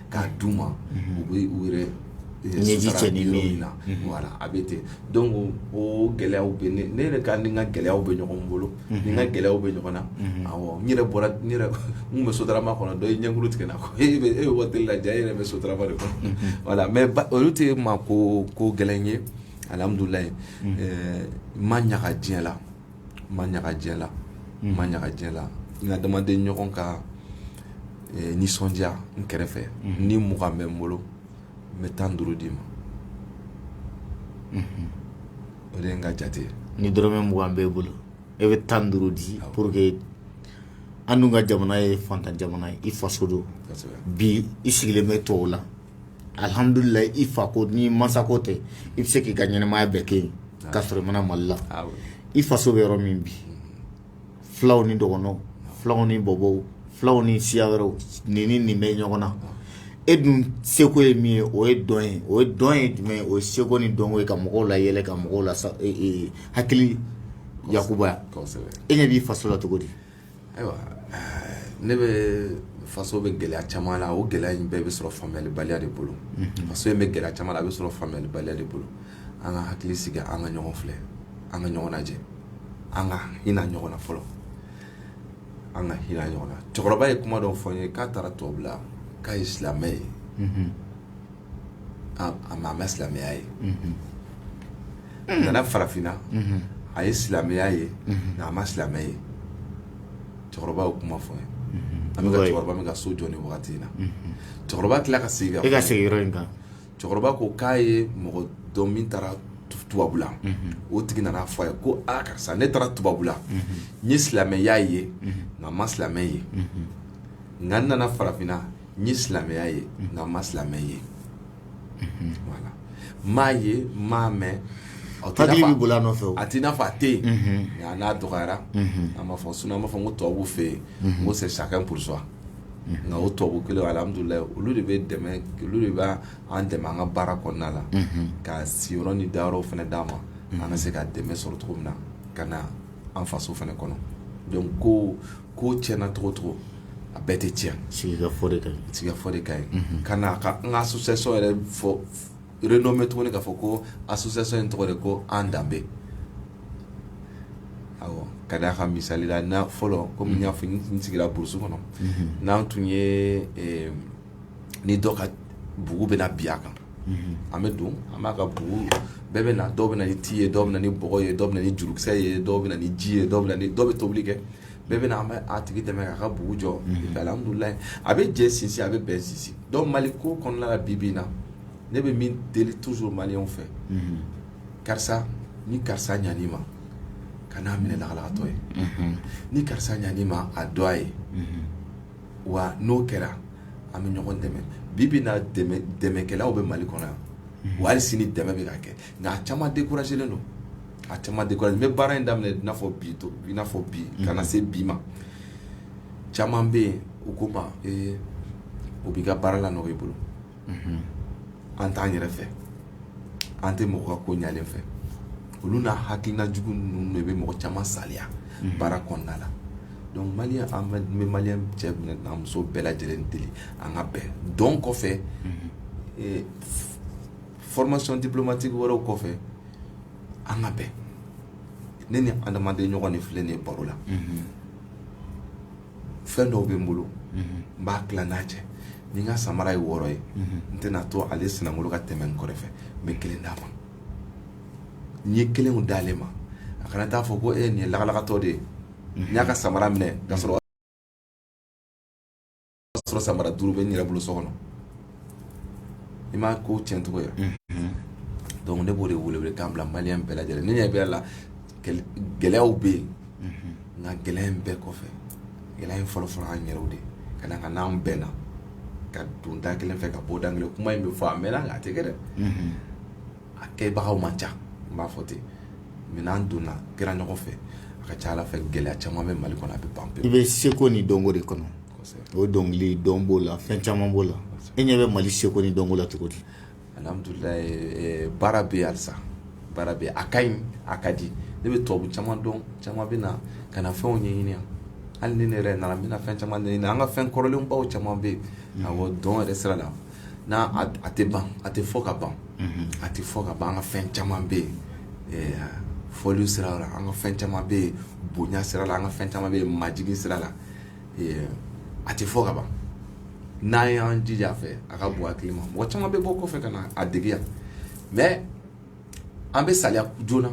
k'a d'u ma u bɛ u yɛrɛ ɲɛji cɛ ni min na voilà a bɛ ten donc o gɛlɛyaw bɛ ne yɛrɛ kan ni n ka gɛlɛyaw bɛ ɲɔgɔn bolo ni n ka gɛlɛyaw bɛ ɲɔgɔn na n yɛrɛ bɔra n bɛ sotarama kɔnɔ dɔ ye ɲɛkuru tigɛ n na e bɛ e waati la jaa e yɛrɛ bɛ sotarama de kɔnɔ voilà mais olu tɛ ne ma ko gɛlɛn ye alihamdulilayi n ma ɲaga diɲɛ la ma ɲaga diɲɛ la n ma ɲaga diɲɛ la n adamaden ɲɔgɔn ka eh, nisɔndiya n kɛrɛfɛ mhm. ni mugan bɛ n bolo n bɛ tan duuru d'i ma mhm. o de ye n ka jate ye ni dɔrɔmɛ mugan b'e bolo e bɛ tan duuru di pour que an dun ka jamana ye fantan jamana ye i faso don bi i sigilen bɛ tubabu la alihamdulilayi i fa ko ni masa ko tɛ i bɛ se k'i ka ɲɛnɛmaya bɛɛ kɛ yen ka sɔrɔ i ma na mali la i faso bɛ yɔrɔ min bi fulaw ni dɔgɔnɔw fulaw ni bɔbɔw fulaw ni siya wɛrɛw ni ni nin bɛ ɲɔgɔn na e dun seko ye min ye o ye dɔn ye o ye dɔn ye jumɛn o ye seko ni dɔnko ye ka mɔgɔw layɛlɛ ka mɔgɔw la hakili yakuba e ɲɛ b'i faso la cogo di ayiwa ne bɛ faso bɛ gɛlɛya caman la o gɛlɛya in bɛɛ bɛ sɔrɔ faamuyalibaliya de bolo faso in bɛ gɛlɛya caman la a bɛ sɔrɔ faamuyalibaliya de bolo an ka hakili sigi an ka ɲɔgɔn filɛ an ka ɲɔgɔn lajɛ an ka hinɛ ɲɔgɔn na fɔlɔ an ka hinɛ ɲɔgɔn na cɛkɔrɔba ye kuma dɔ fɔ n ye k'a taara tubabula k'a ye silamɛ ye a ma silamɛya ye a nana farafinna a ye silamɛya ye nka a ma silamɛ ye cɛkɔrɔba y'o kuma fɔ an bɛ cɛkɔrɔba min ka so jɔ ni waati in na cɛkɔrɔba tila ka sigi ka segin yɔrɔ in kan cɛkɔrɔba ko k'a ye mɔgɔ dɔn min taara tubabula o tigi nana fɔ a ye ko aa karisa ne taara tubabula n ye silamɛya ye nka n ma silamɛ ye nka n nana farafinna n ye silamɛya ye nka n ma silamɛ ye voilà n m'a ye n m'a mɛn a tɛ i n'a hakili fɔ- bɛ boli a nɔfɛ o. a t'i n'a fɔ a tɛ yen nka n'a dɔgɔyara an b'a fɔ sinon an b'a fɔ ko tubabuw fɛ yen n ko c'est chacun pour soi nka o tubabu kelen alihamudulilayi olu de bɛ dɛmɛ olu de b'an dɛmɛ an ka baara kɔnɔna la ka siyɔrɔ ni dayɔrɔw fana d'an ma an ka se ka dɛmɛ sɔrɔ cogo min na ka na an faso fana kɔnɔ donc ko ko tiɲɛna cogo o cogo a bɛɛ tɛ tiɲɛ sigikafɔ de ka ɲi sigikafɔ de ka ɲi mhm. ka na ka n ka association yɛrɛ fɔ renommé tuguni k'a fɔ ko association in tɔgɔ de ko an danbe awɔ ka d'a kan misali la na fɔlɔ komi n y'a fɔ n sigira burusi kɔnɔ mhm. n'an tun ye ni dɔ ka bugu bɛna bin a kan an bɛ don an b'a ka bugu bɛɛ bɛ na dɔw bɛ na ni ti ye dɔw bɛ na ni bɔgɔ ye dɔw bɛ na ni jurukisɛ ye dɔw bɛ na ni ji ye dɔw bɛ na ni dɔw bɛ tobili kɛ bɛɛ bɛ na an bɛ a tigi dɛmɛ k'a ka bugu jɔ alihamudulilayi a bɛ jɛ sinsin a bɛ bɛn sinsin donc mali ko kɔnɔna la bi bi na ne bɛ min deli toujours maliyɛnw fɛ karisa ni karisa ɲan'i ma kan'a minɛ lagalagatɔ ye ni karisa ɲan'i ma a dɔn a ye wa n'o kɛra an bɛ ɲɔgɔn dɛmɛ bi bi na dɛmɛkɛlaw bɛ mali kɔnɔ yan wa hali sini dɛmɛ bɛ ka kɛ nka a caman découragélen don a caman de n bɛ baara in daminɛ n'a fɔ bi to i n'a fɔ bi kana se bi ma caman bɛ yen u kuma o b'i ka baara lanɔgɔ i bolo an t'an yɛrɛ fɛ an tɛ mɔgɔ ka ko ɲalen fɛ olu n'a hakilina jugu ninnu de bɛ mɔgɔ caman saliya baara kɔnɔna la donc maliyɛn an bɛ n bɛ maliyɛn cɛ n'a muso bɛɛ lajɛlen deli an ka bɛn dɔn kɔfɛ eh, f- formation diplomatique wɛrɛw kɔfɛ an ka bɛn ne ni adamaden ɲɔgɔn de filɛ nin ye baro la fɛn dɔw bɛ n bolo n b'a tila n n'a cɛ ni n ka samara ye wɔɔrɔ ye n tɛna to ale sinankolo ka tɛmɛ n kɔrɔfɛ n bɛ kelen d'a ma n ye kelen d'ale ma a kana taa fɔ ko ɛɛ nin ye lagalagatɔ de ye n y'a ka samara minɛ k'a sɔrɔ samara duuru bɛ n yɛrɛ bolo so kɔnɔ i ma ko cɛncogo ye donc ne b'o de wele welekan bila maliyɛn bɛɛ lajɛlen ne ɲɛ b'a la gɛlɛyaw bɛ yen nka gɛlɛya in bɛɛ kɔfɛ gɛlɛya in fɔlɔ fɔlɔ an yɛrɛw de ka d'a kan n'an bɛnna ka don da kelen fɛ ka bɔ da kelen kuma in bɛ fɔ a mɛnna nka a tɛ kɛ dɛ a kɛbagaw man ca n b'a fɔ ten mais n'an donna kɛra ɲɔgɔn fɛ a ka ca ala fɛ gɛlɛya caman bɛ mali kɔnɔ a bɛ ban i bɛ seko ni dɔnko de kɔnɔ o dɔnkili dɔn b'o la fɛn caman b'o la e ɲɛ bɛ mali seko ni dɔnko la cogo di baara bɛ yen halisa baara bɛ yen a ka ɲi a ka di ne bɛ tubabu caman dɔn caman bɛ na ka na fɛnw ɲɛɲini hali ni ne yɛrɛ nana n bɛna fɛn caman ɲini an ka fɛn kɔrɔlenbaw caman bɛ yen awɔ dɔn yɛrɛ sira la n'a tɛ ban a tɛ fɔ ka ban a tɛ fɔ ka ban an ka fɛn caman bɛ yen fɔli sira la an ka fɛn caman bɛ yen bonya sira la an ka fɛn caman bɛ yen majigin sira la a tɛ fɔ ka ban n'an y'an jija fɛ a ka bon hakili ma mɔgɔ caman bɛ bɔ kɔfɛ ka na a dege yan mais an bɛ saliya joona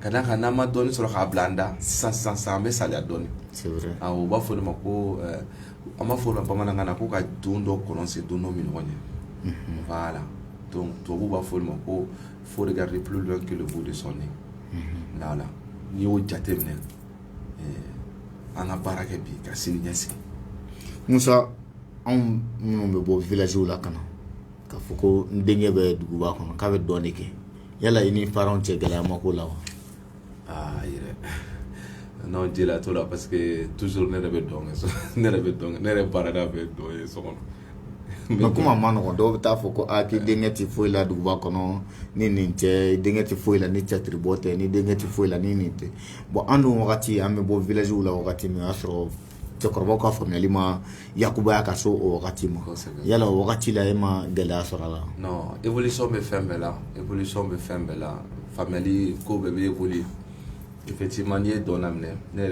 ka d'a kan n'an ma dɔɔnin sɔrɔ k'a bila an da sisan sisan sisan an bɛ saliya dɔɔnin c'est vrai awɔ u b'a fɔ o de ma ko euh, an b'a fɔ o ma bamanankan na ko ka don dɔ kɔlɔn sen don dɔ minnɔgɔ ɲɛ voilà donc tubabuw b'a fɔ o de ma ko faut regarder plus loin que le bout de son nez voilà n'i y'o jateminɛ an ka baara kɛ bi ka sini ɲɛsigi musa anw minnu bɛ bɔ villagew la ka na k'a fɔ ko n denkɛ bɛ duguba kɔnɔ k'a bɛ dɔn de kɛ yala i ni parentsw cɛ gɛlɛya ma k'o la wa aa yɛrɛ non gɛlɛya t'o la parce que toujours ne yɛrɛ bɛ dɔn ne yɛrɛ bɛ dɔn ne yɛrɛ baarada bɛ dɔn ye so kɔnɔ mais kuma ma nɔgɔ dɔw bɛ taa fɔ ko aa i denkɛ tɛ foyi la duguba kɔnɔ ni nin tɛ denkɛ tɛ foyi la ni tiyatiribɔ tɛ ni denkɛ tɛ foyi la ni nin tɛ bon an dun wagati an bɛ bɔ villagew la wagati min o y'a sɔrɔ cɛkɔrɔbaw ka faamuyali ma yakubay'a ka so o wagati ma yala o wagati la e ma gɛlɛya sɔrɔ a la évolution bɛ fɛn bɛɛ la évolution bɛ fɛn bɛɛ la faamuyali ko bɛɛ bɛ évoluer effectivement n ye dɔn daminɛ ne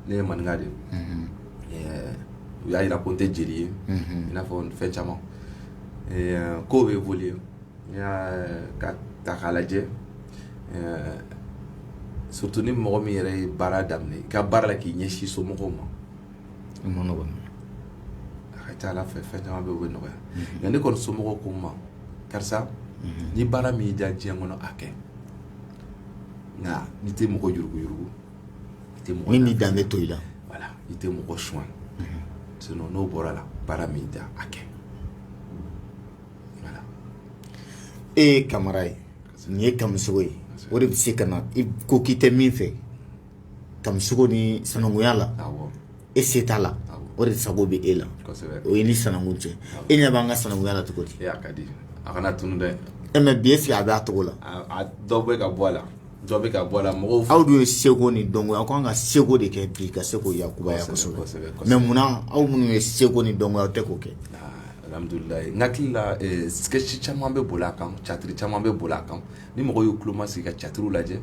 ne ye maninka de u y'a jira ko n tɛ jeli ye i n'a fɔ fɛn caman ko bɛ boli n'i y'a ta k'a lajɛ surtout ni mɔgɔ min yɛrɛ ye baara daminɛ i ka baara la k'i ɲɛsin somɔgɔw ma i ma nɔgɔ a ka ca a la fɛ fɛn caman bɛ o bɛ nɔgɔya mhm. nka ne kɔni somɔgɔw ko n ma karisa mhm. ni baara min y'i diya diɲɛ kɔnɔ a kɛ nka n'i tɛ mɔgɔ yuruguyurugu i tɛ mɔgɔ min b'i danbe to i la voilà i tɛ mɔgɔ suɲɛ mhm. sinon n'o bɔra la baara min y'i diya a kɛ E ye kamara ye nin ye kamisogo ye o de bɛ se ka na i ko k'i tɛ min fɛ kamisogo ni sanankuya la e se t'a la o de sago bɛ e la o ye ni sanankun cɛ e ɲɛ b'an ka sanankuya la cogo di mais bi est-ce que a bɛ a cogo la dɔ bɛ ka bɔ a la Dɔ bɛ ka bɔ a la mɔgɔw fɛ, aw dun ye seko ni dɔnko ye, aw ka kan ka seko de kɛ bi ka se k'o yakubaya kosɛbɛ, kosɛbɛ, kosɛbɛ, mais munna aw minnu ye seko ni dɔnko ye aw tɛ k'o kɛ? Alhamdulilahi n hakili la ɛ sketch caman bɛ boli a kan, caatiri caman bɛ boli a kan, ni mɔgɔw y'u tulo masigi ka caatiriw lajɛ,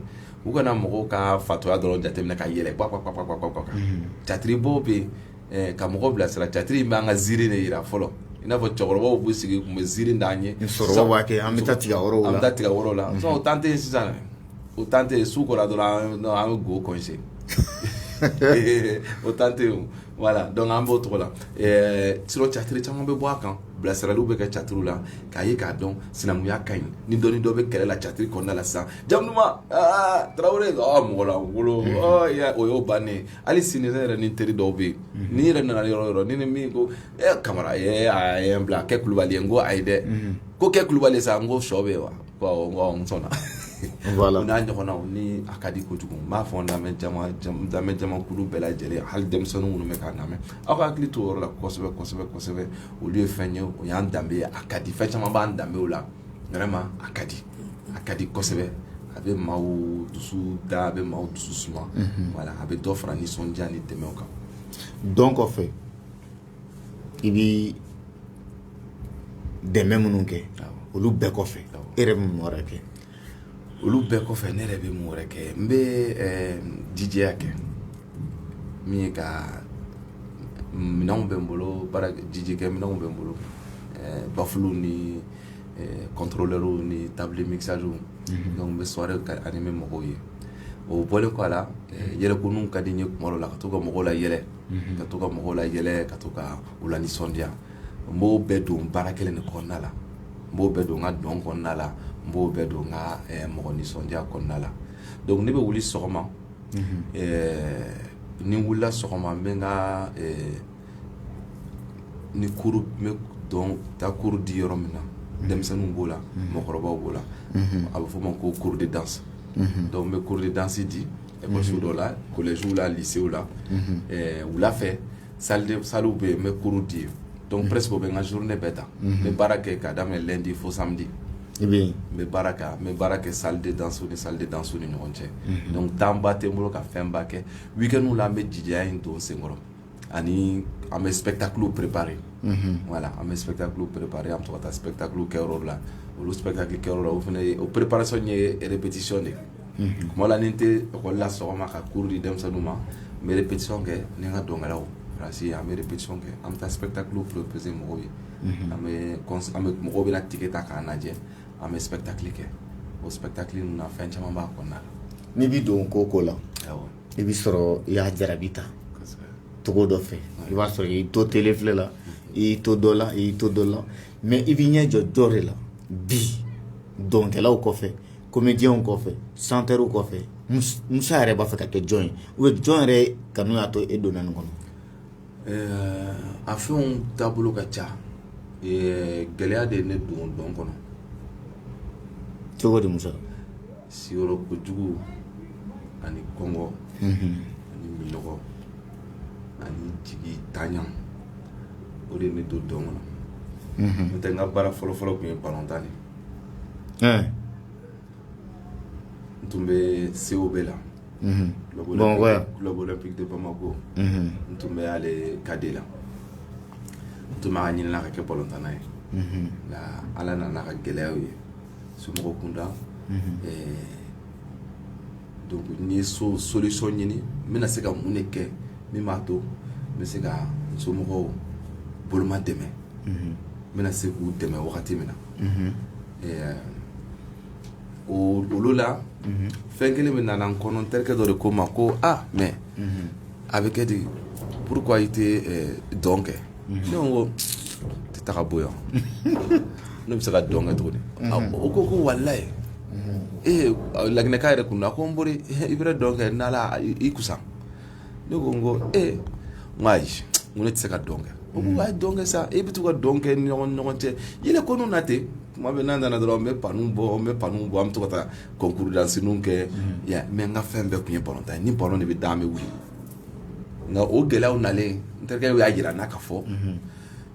u kana mɔgɔw ka fatɔya dɔrɔn jateminɛ ka yɛlɛ pwa-pwa-pwa ka, unhun, caatiri bɔ bɛ yen eh, ka mɔgɔ bilasira catiri in b'an ka ziiri de jira fɔlɔ i n'a fɔ cɛkɔrɔbaw b'u sigi tun bɛ ziiri d'an ye sɔrɔbaw b'a kɛ an bɛ taa tiga wɔrɔ la an bɛ taa tiga wɔrɔ la o tan tɛ yen sisan o tan tɛ yen su kora dɔrɔn an bɛ go kɔnse o tan tɛ yen voilà donc an b'o cogo la eh, sirɔ catiri caman bɛ bɔ a kan bilasiraliw bɛ kɛ catiriw la k'a ye k'a dɔn sinankunya ka ɲi ni dɔnni dɔ bɛ kɛlɛ la catiri kɔnɔna la sisan jamu duman tarawele mɔgɔ la wolo o y'o bannen hali sini ne yɛrɛ ni teri dɔw bɛ yen mhm. ni yɛrɛ nana yɔrɔ o yɔrɔ ni ni min ko ɛ eh, kamara ye eh, a ye n bila kɛ kulubali ye n ko ayi dɛ mhm. ko kɛ kulubali sa n ko shɔ bɛ yen wa ko awɔ n ko awɔ n sɔnna voilà. n'a ɲɔgɔnnaw ni a ka di kojugu n b'a fɔ n lamɛn jama lamɛn jamakulu bɛɛ lajɛlen hali denmisɛnninw minnu bɛ k'a lamɛn aw ka hakili to o yɔrɔ la kosɛbɛ kosɛbɛ kosɛbɛ olu ye fɛn ye o y'an danbe ye a ka di fɛn caman b'an danbew la vraiment a ka di a ka di kosɛbɛ a bɛ maaw dusu da a bɛ maaw dusu suma mhm. voilà a bɛ dɔ fara nisɔndiya ni dɛmɛw kan dɔn kɔfɛ i bɛ dɛmɛ minnu kɛ olu bɛɛ kɔfɛ e yɛrɛ bɛ mun wɛrɛ kɛ olu bɛɛ kɔfɛ ne yɛrɛ bɛ mun wɛrɛ kɛ n bɛ eh, DJya kɛ min ye ka minɛnw bɛ n bolo baara DJ kɛ minɛnw bɛ n bolo bafuluw ni kɔntorolɛriw ni table mixage donc n bɛ soirée animer mɔgɔw ye o bɔlen kɔ a la yɛlɛkoninw ka di n ye kuma la ka to ka mɔgɔw layɛlɛ ka to ka mɔgɔw layɛlɛ ka to ka u lanisɔndiya n b'o bɛɛ don baara kelen de kɔnɔna la n b'o bɛɛ don n ka dɔn kɔnɔna la n b'o bɛɛ don n ka mɔgɔ nisɔndiya kɔnɔna la donc ne bɛ wuli sɔgɔma ni n wulila sɔgɔma n bɛ ka ni n taa cours di yɔrɔ min na denmisɛnninw b'o la mɔgɔkɔrɔbaw b'o la a bɛ f'o ma ko cours de danse donc n bɛ cours de danse di école dɔ la collège la lycée la wula fɛ salle sallew bɛ yen n bɛ cours di yen donc presque o bɛ n ka journée bɛɛ ta n bɛ baara kɛ k'a daminɛ lundi fo samedi i bɛ yen n bɛ baara kɛ n bɛ baara kɛ salle de danse ni salle de danse ni ɲɔgɔn cɛ donc temps ba tɛ n bolo ka fɛn ba kɛ week-end la an bɛ jijaya in don sen kɔrɔ ani an bɛ spectacle préparer voilà an bɛ spectacle préparer an bɛ to ka taa spectacle kɛyɔrɔ la olu spectacle kɛyɔrɔ la o fana ye o préparation ye répétition de ye tuma la ni n tɛ école la sɔgɔma ka cours di denmisɛnninw ma n bɛ répétition kɛ ni n ka dɔnkɛlaw parce an bɛ répétition kɛ an bɛ taa spectacle proposer mɔgɔw ye an bɛ mɔgɔw bɛ ticket ta k'a lajɛ an bɛ spectacle kɛ o spectacle na fɛn caman b'a kɔnɔna na n'i bɛ don ko o ko la i bɛ sɔrɔ i y'a jarabi ta cogo dɔ fɛ i b'a sɔrɔ i y'i to télé filɛ la i y'i to dɔ la i y'i to dɔ la mais i b'i ɲɛ jɔ jɔn de la bi dɔnkɛlaw kɔfɛ comédienw kɔfɛ chanteurw kɔfɛ musa yɛrɛ b'a fɛ ka kɛ jɔn ye ou bien jɔn yɛrɛ kanu y'a to e donna nin kɔnɔ a fɛnw taabolo ka ca gɛlɛya de ye ne don dɔn kɔnɔ cogo di musa siyɔrɔko jugu ani kɔngɔ ani minɔgɔ ani jigitanya o de ye ne don dɔn kɔnɔ n'o tɛ n ka baara fɔlɔfɔlɔ tun ye balontan de ye n tun bɛ COB la club olympique de Bamako n tun bɛ ale cadet la n tun b'a ɲinina ka kɛ balontanna ye nka Ala nana ka gɛlɛyaw ye somɔgɔw kunda donc n ye so solution ɲini n bɛna se ka mun de kɛ min b'a to n bɛ se ka n somɔgɔw boloma dɛmɛ n bɛna se k'u dɛmɛ wagati min na o olu la fɛn kelen pe nana n kɔnɔ n terikɛ dɔ de ko n ma ko ah mais a bɛ kɛ di pourquoi i tɛ dɔn kɛ ne ko tɛ taga bɔ yan ne bɛ se ka dɔn kɛ cogo di o ko ko walayi ee laginɛka yɛrɛ kun na ko n bɔra i bɛ dɔn kɛ n'ala i kusa ne ko n ko ee n ko ayi n ko ne tɛ se ka dɔn kɛ o ko ayi dɔn kɛ sa e bɛ to ka dɔn kɛ ni ɲɔgɔn ɲɔgɔn cɛ yɛlɛ ko n'u na ten tuma bɛ n'an nana dɔrɔn n bɛ pas ninnu bɔ n bɛ pas ninnu bɔ an bɛ to ka taa concours dansininw kɛ mais n ka fɛn bɛɛ tun ye balontan ye ni balon de bɛ da an bɛ wuli nka o gɛlɛyaw nalen n terikɛ y'a jira n na k'a fɔ n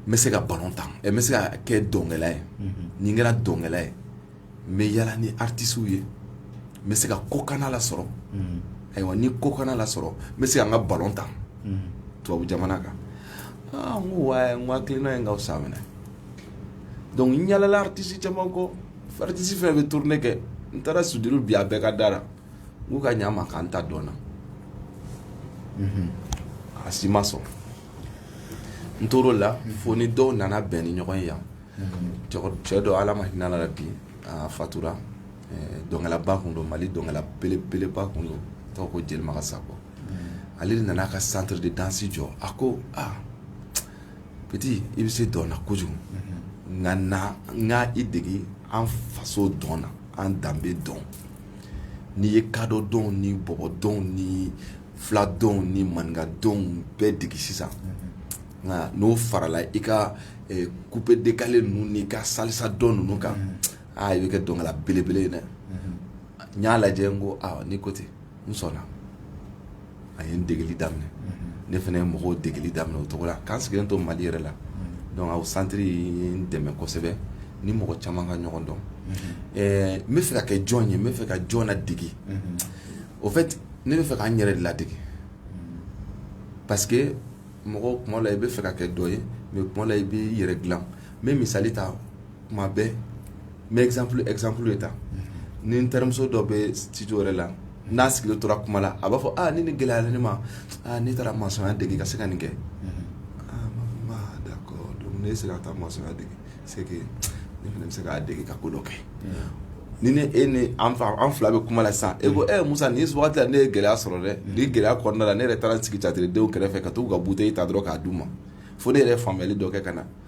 bɛ se ka balon tan n bɛ se ka kɛ dɔnkɛla ye ni n kɛra dɔnkɛla ye n bɛ yala ni artisiw ye n bɛ se ka kɔkanna lasɔrɔ ayiwa ni kɔkanna lasɔrɔ n bɛ se ka n ka balon tan tubabu jamana kan aa n ko wa n ko hakilina ye n k'aw san minɛ donc n yalala artisi caman kɔ artisi fɛn bɛ tournée kɛ n taara studio bi a bɛɛ ka da la K'u ka ɲa n ma ka n ta dɔn na, unhun, a si ma sɔn n tor'o la fo ni dɔw nana bɛn ni ɲɔgɔn ye yan, unhun, cɛ dɔ Ala ma hinɛ a la bi a fatura dɔnkɛlaba tun don Mali dɔnkɛla belebeleba tun don a tɔgɔ ko Jelimagan Sako, unhun, ale de nana a ka centre de danse jɔ a ko aa petit i bɛ se dɔn na kojugu, unhun, nka na n ka i dege an faso dɔn na an danbe dɔn N'i ye kadɔ dɔnw ni bɔbɔ dɔnw ni fila dɔnw ni maninka dɔnw bɛɛ dege sisan nka n'o farala i ka coupé décalé ninnu n'i ka salsa dɔn ninnu kan aa i bɛ kɛ dɔnkɛla belebele ye dɛ n y'a lajɛ n ko ni ko ten n sɔnna a ye n degeli daminɛ ne fana ye mɔgɔw degeli daminɛ o cogo la k'an sigilen to Mali yɛrɛ la donc centre ye n dɛmɛ kosɛbɛ ni mɔgɔ caman ka ɲɔgɔn dɔn ɛɛ n bɛ fɛ ka kɛ jɔn ye n bɛ fɛ ka jɔn ladege au fait ne bɛ fɛ ka n yɛrɛ ladege parce que mɔgɔ kuma la i bɛ fɛ ka kɛ dɔ ye mais kuma la i b'i yɛrɛ dilan n bɛ misali ta tuma bɛɛ n bɛ exemple exemple de ta ni n terimuso dɔ bɛ studio wɛrɛ la n'a sigilen tora kuma la a b'a fɔ aa ni nin gɛlɛyara ne ma aa ne taara masɔnya dege ka se ka nin kɛ aa n b'a fɔ bon aa d'accord donc n'e sera ka taa masɔnya dege c'est que ne fana bɛ se k'a dege ka ko dɔ kɛ ni ne e ni an fa an fila bɛ kuma la sisan e ko ɛ Musa nin wagati la ne ye gɛlɛya sɔrɔ dɛ nin gɛlɛya kɔnɔna la ne yɛrɛ taara n sigi jatigidenw kɛrɛfɛ ka t'u ka bouteille ta dɔrɔn k'a d'u ma fo ne yɛrɛ ye faamuyali dɔ kɛ ka na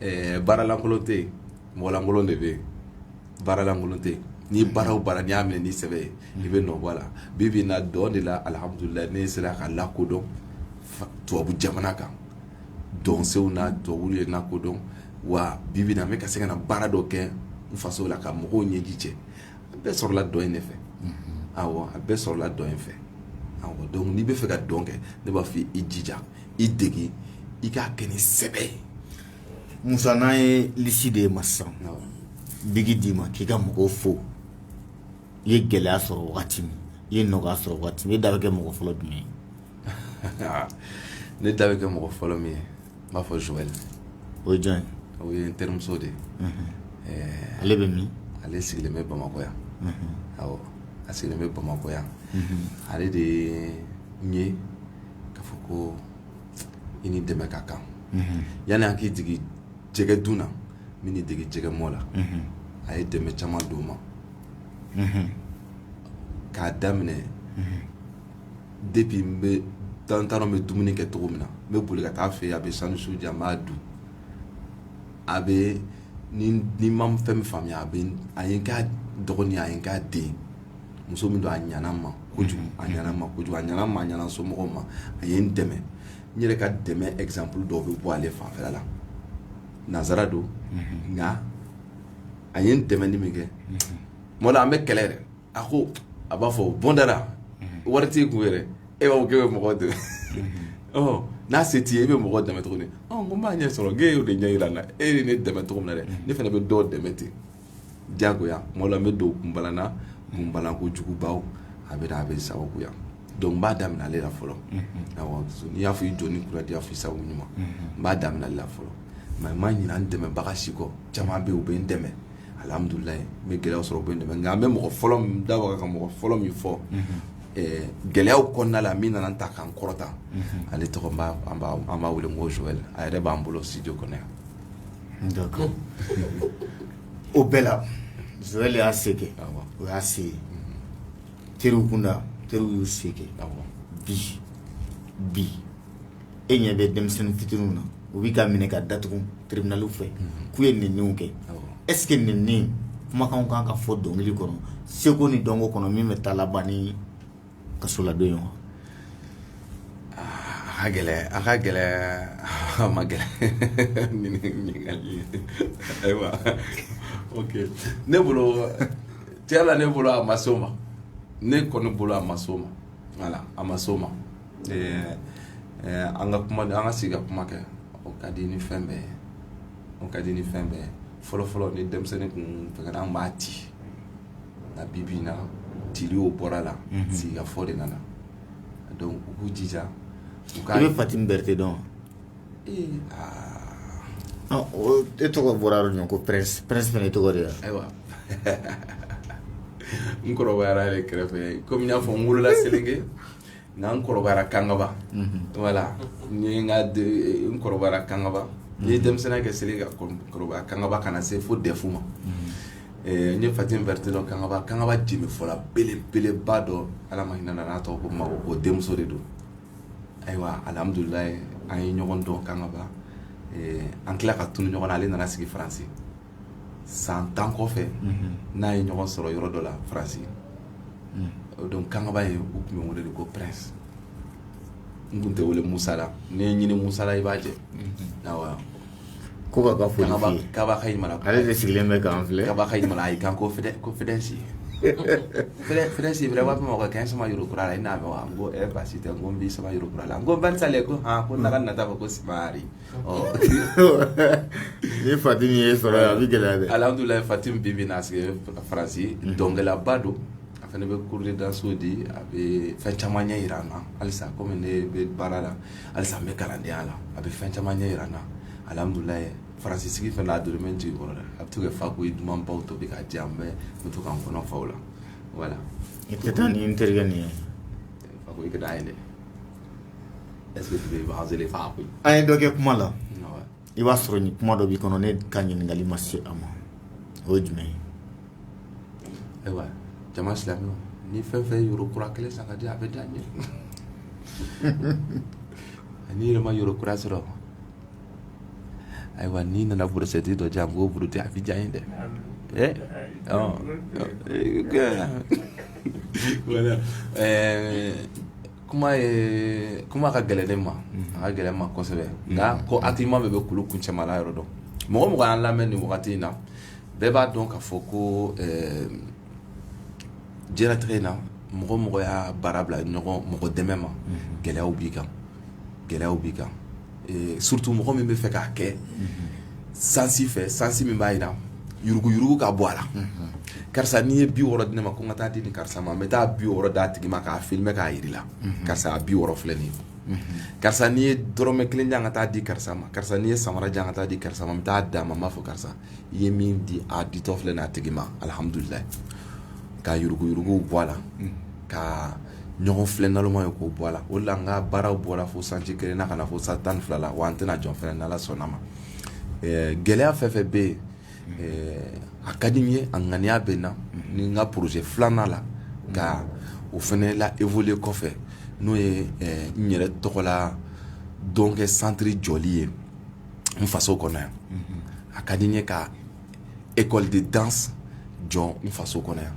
ɛɛ baaralankolon tɛ yen mɔgɔlankolon de bɛ yen baaralankolon tɛ yen ni baara o baara n'i y'a minɛ ni sɛbɛ ye i bɛ nɔ bɔ a la bi bi in na dɔn de la alihamudulilayi ne sera ka lakodɔn fa- tubabu jamana kan dɔnsenw na tubabuw ye n lakodɔn wa bi bi in na n bɛ ka se ka na baara dɔ kɛ n faso la ka mɔgɔw ɲɛji cɛ a bɛɛ sɔrɔla dɔn in de fɛ awɔ a bɛɛ sɔrɔla dɔn in fɛ awɔ donc n'i bɛ fɛ ka dɔn kɛ ne b'a fɔ i jija i dege i k'a kɛ ni sɛbɛ ye musa n'an ye lisi di e ma sisan biki d'i ma k'i ka mɔgɔw fo i ye gɛlɛya sɔrɔ wagati min i ye nɔgɔya sɔrɔ wagati min e da bɛ kɛ mɔgɔ fɔlɔ jumɛn ye ne da bɛ kɛ mɔgɔ fɔlɔ min ye n b'a fɔ Joël o ye jɔn ye o ye n terimuso de ye ɛɛ ale bɛ min ale sigilen bɛ Bamakɔ yan awɔ a sigilen bɛ Bamakɔ yan ale de ye n ye k'a fɔ ko i ni dɛmɛ ka kan yanni an k'i dege jɛgɛ dun na n b'i dege jɛgɛ mɔ la a ye dɛmɛ caman don n ma k'a daminɛ depuis n bɛ n t'a dɔn n bɛ dumuni kɛ cogo min na n bɛ boli ka taa a fɛ a bɛ sandwich di an b'a dun a bɛ ni n ma fɛn min faamuya a a ye n k'a dɔgɔnin a ye n k'a den muso min don a ɲana n ma kojugu a ɲana n ma kojugu a ɲana n somɔgɔw ma a ye n dɛmɛ n yɛrɛ ka dɛmɛ exemple dɔw bɛ bɔ ale fanfɛ la nansara don nka a ye n dɛmɛni min kɛ tuma la an bɛ kɛlɛ yɛrɛ a ko a b'a fɔ bɔnda wari t'i kun yɛrɛ e b'a fɔ k'e bɛ mɔgɔ dɛmɛ n'a se t'i ye e bɛ mɔgɔ dɛmɛ tuguni n b'a ɲɛ sɔrɔ k'e y'o de ɲɛ jira n na e ye ne dɛmɛ cogo min na dɛ ne fana bɛ dɔ dɛmɛ ten jagoya tuma la n bɛ don kunbalan na kunbalanko jugubaw a bɛ a bɛ sababuya donc n b'a daminɛ ale la fɔlɔ awɔ n'i y'a fɔ i jɔ ni kura diya f'i sago ɲuman n b'a daminɛ ale la fɔlɔ mais n ma ɲinɛ n dɛmɛbaga si kɔ caman bɛ yen u bɛ n dɛmɛ alhamdulilayi n bɛ gɛlɛyaw sɔrɔ u bɛ n dɛmɛ nka an bɛ mɔgɔ fɔlɔ min n da waga ka mɔgɔ fɔlɔ min fɔ eh, gɛlɛyaw kɔnɔna la min nana n ta ka n kɔrɔta ale tɔgɔ n b'a- an b'a an b'a wele ko Joël a yɛrɛ b'an bolo studio kɔnɔ yan o bɛɛ la Joël y'a se kɛ o y'a se teriw kunda teriw y'u se kɛ bi e ɲɛ bɛ denmisɛnnin fitininw na u bɛ ka minɛ ka datugu tribunalw fɛ k'u ye nɛniw kɛ est-ce que nɛni kumakanw kan ka fɔ dɔnkili kɔnɔ seko ni dɔnko kɔnɔ min bɛ taa laban kasoladon wa a gɛlɛ a ka gɛlɛ a ma gɛlɛ ayiwa ne bolo tiɲɛ la ne bolo a ma s'o ma ne kɔni bolo a ma s'o ma voilà a ma s'o ma an ka kuma an ka sigi ka kuma kɛ o ka di ni fɛn bɛɛ ye o ka di ni fɛn bɛɛ ye fɔlɔfɔlɔ ni denmisɛnnin kun fɛgɛnna an b'a ci nka bi bi in na tile o bɔra la sigikafɔ de nana donc u k'u jija u ka i bɛ Fatim Berete dɔn wa ee aa ɔ o e tɔgɔ bɔra yɔrɔ jumɛn ko Prince Prince fana i tɔgɔ de ye wa ayiwa n kɔrɔbayara ale kɛrɛfɛ komi n y'a fɔ n wolola selenge nka n kɔrɔbayara kangaba voilà n ye n ka de- n kɔrɔbayara kangaba n ye denmisɛnninya kɛ selenge ka kɔrɔ- kɔrɔbaya kangaba ka na se fo dɛfu ma N ye fatim berete dɔn kangaba kangaba jenbefɔla belebeleba dɔ ala ma hinɛ a la a tɔgɔ ko mago o denmuso de don ayiwa alihamidulilahi an ye ɲɔgɔn dɔn kangaba an tila ka tunun ɲɔgɔn na ale nana sigi faransi san tan kɔfɛ n'a ye ɲɔgɔn sɔrɔ yɔrɔ dɔ la faransi donc kangaba yen u tun bɛ n wele de ko prince n tun tɛ wele musa la n'i ye n ɲinin musa la i b'a jɛ Ko ka ka foli f'i ye. Kaba ka ɲi Mali. Ale de sigilen bɛ k'an filɛ. Kaba ka ɲi Mali. Ayi kan ko fidɛ ko fidɛsi. Fidɛ fidɛsi bɛrɛ b'a fɔ ma ko 15 ma euro kura la i n'a mɛn wa? N ko ɛɛ baasi tɛ n ko n b'i sama euro kura la. N ko Van Salɛ ko han ko na ka nata ko sumari. Ɔ Ni Fatim y'e sɔrɔ yan a bɛ gɛlɛya dɛ. Alihamidulilahi Fatim bi bi in na a sigilen bɛ Faransi dɔnkɛlaba don. A fana bɛ cours de danse di a bɛ fɛn caman ɲɛ jira an na halisa komi ne bɛ baara la. halisa n bɛ kalandenya la a bɛ fɛn caman ɲɛ jira an na alihamidulilahi faransi sigi fɛ a donnen bɛ n jigi kɔrɔ dɛ a bɛ to ka fakoyi dumanbaw tobi k'a di yan n bɛ to k'an kɔnɔ fa o la voilà i tɛ taa ni n terikɛ nin ye fakoyi ka da ye dɛ ɛse fakoyi an ye dɔ kɛ kuma la i b'a sɔrɔ ni kuma dɔ b'i kɔnɔ ne ka ɲininkakali ma se a ma o ye jumɛn ye ayiwa jama silamɛw ni fɛn fɛn euro kura kelen san ka di a bɛ diya n ye n'i yɛrɛ ma euro kura sɔrɔ ayiwa n'i nana burusɛti dɔ di yan n b'o burute a bɛ diya n ye dɛ ɛ ɔ voilà kuma kuma ka gɛlɛn ne ma a ka gɛlɛn n ma kosɛbɛ nka ko hakilima bɛɛ bɛ kulu kuncɛmana yɔrɔ dɔn mɔgɔ o mɔgɔ y'an lamɛn nin wagati in na bɛɛ b'a dɔn k'a fɔ ko diɲɛlatigɛ in na mɔgɔ o mɔgɔ y'a baara bila ɲɔgɔn mɔgɔ dɛmɛ ma gɛlɛya b'i kan gɛlɛya b'i kan surtout mɔgɔ min bɛ fɛ k'a kɛ sansi fɛ sansi min b'a jira yuruguyugu ka bɔ a la karisa n'i ye bi wɔɔrɔ di ne ma ko n ka taa di ni karisa ma n bɛ taa bi wɔɔrɔ d'a tigi ma k'a filmer k'a jira i la karisa bi wɔɔrɔ filɛ nin ye karisa n'i ye dɔrɔmɛ kelen di yan ka taa di karisa ma karisa n'i ye samara di yan ka taa di karisa ma n bɛ taa d'a ma n b'a fɔ karisa i ye min di a ditɔ filɛ n'a tigi ma alihamudulilayi ka yuruguyuruguw bɔ a la mm. ka ɲɔgɔn filɛ naloma ye k'o bɔ a la o de la n ka baaraw bɔra fo sanji kelen na ka na fo san tan ni fila la wa an tɛna jɔ fɛnɛ n'ala sɔnna ma eh, gɛlɛya fɛn fɛn bɛ yen mm. eh, a ka di n ye a ŋaniya bɛ n na mm. ni n ka projet filanan la ka o fɛnɛ la évoluer kɔfɛ n'o ye eh, n yɛrɛ tɔgɔla dɔnkɛ centre jɔli ye n faso kɔnɔ yan a ka di n ye ka école de danse jɔ n faso kɔnɔ yan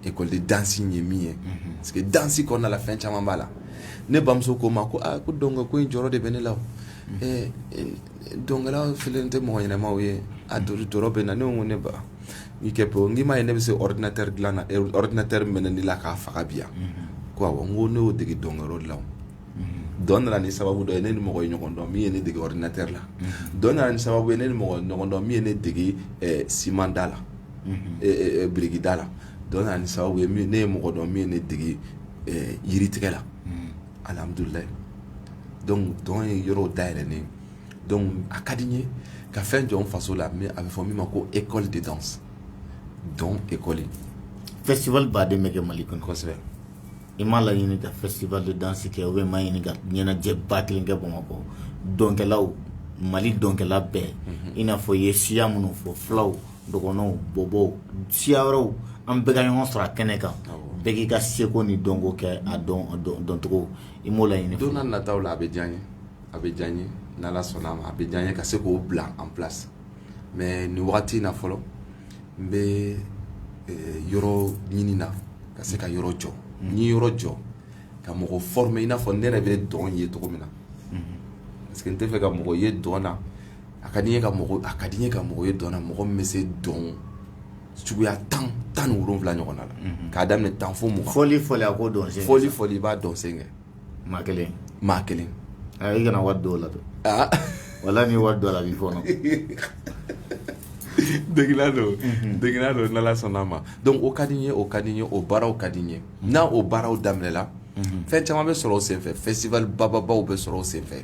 école de danse ye min ye parce que danse kɔnɔna la fɛn caman b'a la ne bamuso ko n ma ko ko dɔn ko in jɔrɔ de bɛ ne la dɔnkɛla kelen tɛ mɔgɔ ɲɛnamaw ye a jɔrɔ bɛ n na ne ko ne ba n'i kɛ bɔ n k'i m'a ye ne bɛ se ordinateur dilan na ordinateur mɛnɛni la k'a faga bi yan ko n ko ne y'o dege dɔnkɛyɔrɔ de la dɔn nana ni sababu dɔ ye ne ni mɔgɔ ye ɲɔgɔn dɔn min ye ne dege ordinateur la dɔn nana ni sababu ye ne ni mɔgɔ ye ɲɔgɔn dɔn min ye ne dege eh, simanda la eh, eh, eh, birikida la dɔn nana ni sababu ye min- ne ye mɔgɔ dɔn min ye ne dege eh, yiritigɛ la alhamdulilayi donc dɔn ye yɔrɔw dayɛlɛ ne ye. donc a ka di n ye ka fɛn jɔ n faso la min a bɛ fɔ min ma ko école de danse donc école festival ba de bɛ kɛ mali kɔnɔ kosɛbɛ I m'a laɲini ka festival de danse kɛ ou bien i m'a ɲini ka ɲɛnajɛba kelen kɛ bamakɔ dɔnkɛlaw mali dɔnkɛla bɛɛ i n'a fɔ i ye siya minnu fɔ fulaw dɔgɔnɔw bɔbɔw siya wɛrɛw an bɛɛ ka ɲɔgɔn sɔrɔ a kɛnɛ kan bɛɛ k'i ka seko ni dɔnko kɛ a dɔncogo i m'o laɲini don nataw la a bɛ diya n ye a bɛ diya n ye n'ala sɔnna a bɛ diya n ye ka se k'o bila en place mais nin wagati in na fɔlɔ n bɛ yɔrɔ ɲini na ka se ka yɔrɔ jɔ n ye yɔrɔ jɔ ka mɔgɔ former i n'a fɔ ne yɛrɛ bɛ dɔn ye cogo min na parce que n tɛ fɛ ka mɔgɔ ye dɔn na a ka di ka mɔgɔ a ka di n ye ka mɔgɔ ye dɔn na mɔgɔ min bɛ se dɔn suguya tan tan ni wolowula ɲɔgɔn na la k'a daminɛ tan fo mugan fɔli fɔ a ko dɔn fɔli fɔ i b'a dɔnsen kɛ maa kelen maa kelen i kana wari don o la dɛ wala ni wari don a la b'i fɔ degela don degela don n'ala sɔnna ma donc o ka di n ye o ka di n ye o baaraw ka di n ye n'a o baaraw daminɛla fɛn caman bɛ sɔrɔ o senfɛ festival bababaw bɛ sɔrɔ o senfɛ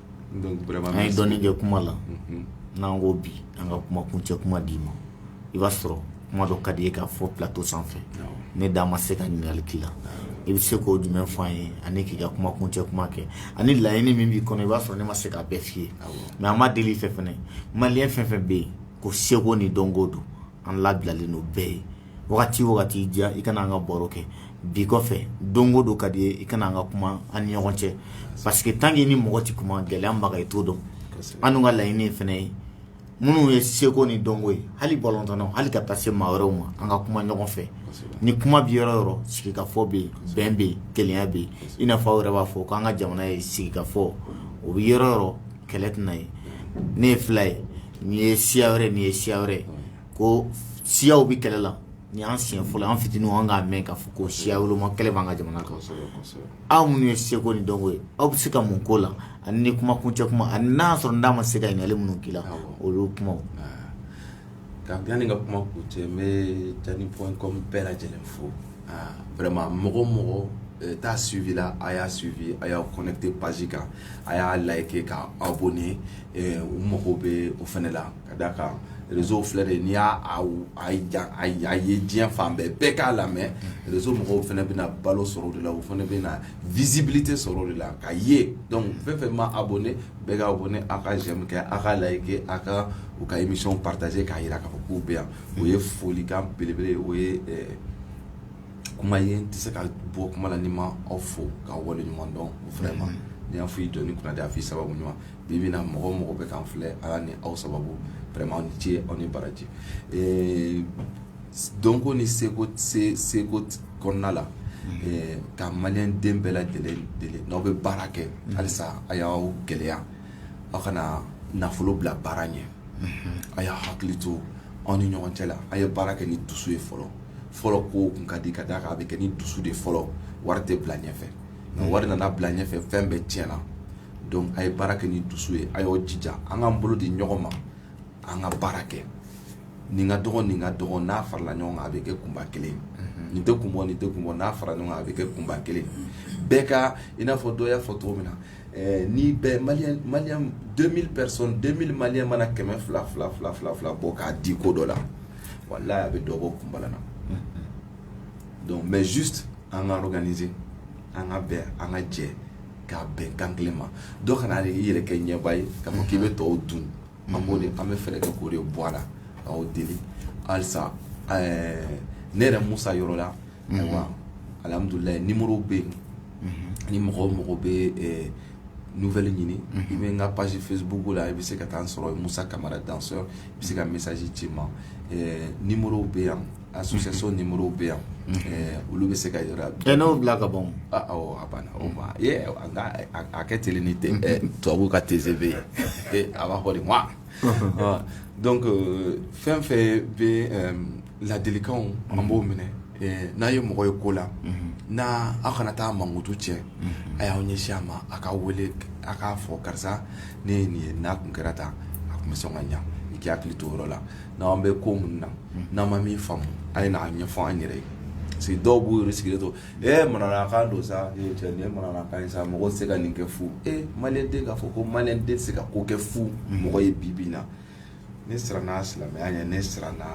ye dɔɔnin kɛ kuma la n'an ko bi an ka kuma kuncɛ kuma d'i ma i b'a sɔrɔ kuma dɔ ka di i ye k'a fɔ plateau sanfɛ ne da ma se ka ɲininkali k'i la i bɛ se k'o jumɛn fɔ an ye ani k'i ka kuma kuncɛ kuma kɛ ani laɲini min b'i kɔnɔ i b'a sɔrɔ ne ma se k'a bɛɛ f'i ye mais an ma deli fɛ fɛnɛ maliyɛn fɛn fɛn bɛ yen ko seko ni dɔnko don an labilalen don bɛɛ ye wagati o wagati diya i ka na an ka baro kɛ bi kɔfɛ don o don ka di i ye i ka na an ka kuma an ni ɲɔgɔn cɛ parce que tant qu'i ni mɔgɔ tɛ kuma gɛlɛya b'a kan i t'o dɔn an ka laɲini fana ye minnu ye seko ni dɔnko ye hali balɔntannaw hali ka taa se maa wɛrɛw ma an ka kuma ɲɔgɔn fɛ ni kuma bi yɔrɔ o yɔrɔ sigikafɔ bɛ yen bɛn bɛ yen kelenya bɛ yen i n'a fɔ aw yɛrɛ b'a fɔ k'an ka jamana ye sigikafɔ o bɛ yɔrɔ o yɔrɔ kɛlɛ tɛna ye ne ye fila ye nin ye siya wɛrɛ nin ye siya wɛrɛ ko siyaw bɛ kɛlɛ la nin y'an siɲɛ fɔlɔ an fitinin an k'a mɛn k'a fɔ ko siya woloma kɛlɛ b'an ka jamana kan aw minnu ye seko ni dɔnko ye aw bɛ se ka mun k'o la ani ni kuma kuncɛ kuma ani n'a sɔrɔ n ma se ka ɲininkali minnu k'i la olu kuma Ka di yanni ka kuma kuncɛ n bɛ Diani point com bɛɛ lajɛlen fo vraiment mɔgɔ o mɔgɔ t'a suivre la a y'a suivre a y'aw connecter page kan a y'a liker ka aw abonner u mago bɛ o fana la ka d'a kan réseau filɛ de n'i y'a ye diɲɛ fan bɛɛ bɛɛ k'a lamɛn réseau mɔgɔw fana bɛna balo sɔrɔ o de la u fana bɛna visibilité sɔrɔ o de la ka ye donc fɛn o fɛn ma abonner bɛɛ ka abonner a ka j'aime kɛ a ka liker a ka u ka émission partager k'a jira k'a fɔ k'u bɛ yan o ye folikan belebele o ye kuma ye n tɛ se ka bɔ kuma la ni n ma aw fo ka wale ɲuman dɔn vraiment n'i y'a fɔ i jɔn kunnandi a fɔ i sababu ɲuman bi bi in na mɔgɔ o mɔgɔ bɛ k'an filɛ ala ni aw sababu vraiment aw ni ce aw ni baraji dɔnko ni seko seko kɔnɔna la ka maliden bɛɛ lajɛlen deli n'aw bɛ baara kɛ halisa a y'aw gɛlɛya aw kana nafolo bila baara ɲɛ a y'a hakili to aw ni ɲɔgɔn cɛ la a ye baara kɛ ni dusu ye fɔlɔ fɔlɔ ko tun ka di ka d'a kan a bɛ kɛ ni dusu de fɔlɔ wari tɛ bila ɲɛfɛ nka wari nana bila ɲɛfɛ fɛn bɛɛ tiɲɛna a ye baara kɛ ni dusu ye a y'aw jija an k'an bolo di ɲɔgɔn ma an ka baara kɛ nin ka dɔgɔn nin ka dɔgɔn n'a farala ɲɔgɔn kan a bɛ kɛ kunba kelen mhm. nin tɛ kun bɔ nin tɛ kun bɔ n'a farala ɲɔgɔn kan a bɛ kɛ kunba kelen bɛɛ ka i n'a fɔ dɔ y'a fɔ cogo min na eh, ni bɛɛ maliyɛn maliyɛn 2000 personnes 2000 maliyɛn mana kɛmɛ fila fila fila fila fila bɔ k'a di ko dɔ la walayi a bɛ dɔ bɔ kunbala na mhm. donc mais juste an ka organiser an ka bɛn an ka jɛ ka bɛn kan kelen ma dɔ kana i yɛrɛ kɛ ɲɛba ye k'a fɔ k'i bɛ tɔw dun an b'o de an bɛ fɛɛrɛ kɛ k'o de bɔ a la k'aw deli halisa ne yɛrɛ musa yɔrɔ la ayiwa alihamudulilayi nimoro bɛ yen ni mɔgɔ o mɔgɔ bɛ nouvelle ɲini i bɛ n ka page facebook la i bɛ se ka taa n sɔrɔ musa kamara danseur i bɛ se ka message ci n ma nimoro bɛ yan Association numéro bɛ yan olu bɛ se ka yɔrɔ bɛn n'o bila ka ban a banna o ma a ka teli ni tubabu ka TGV ye a b'a fɔ wa donc fɛn fɛn bɛ ladilikan an b'o minɛ n'a ye mɔgɔ ye ko la n' aw kana taa mankutu tiɲɛ a y'aw ɲɛsin a ma a k'a weele a k'a fɔ karisa ne ye nin ye n'a tun kɛra tan a tun bɛ sɔn ka ɲɛ i k'i hakili to o yɔrɔ la n' an bɛ ko minnu na n'an ma min faamu a ye n'a ɲɛfɔ an yɛrɛ ye parce que dɔw b'u yɛrɛ sigilen to ɛ manamanakan don sa manamanakan ye sa mɔgɔ tɛ se ka nin kɛ fu e maliden k'a fɔ ko maliden tɛ se ka ko kɛ fu mɔgɔ ye bi bi in na ne siranna silamɛya ɲɛ ne siranna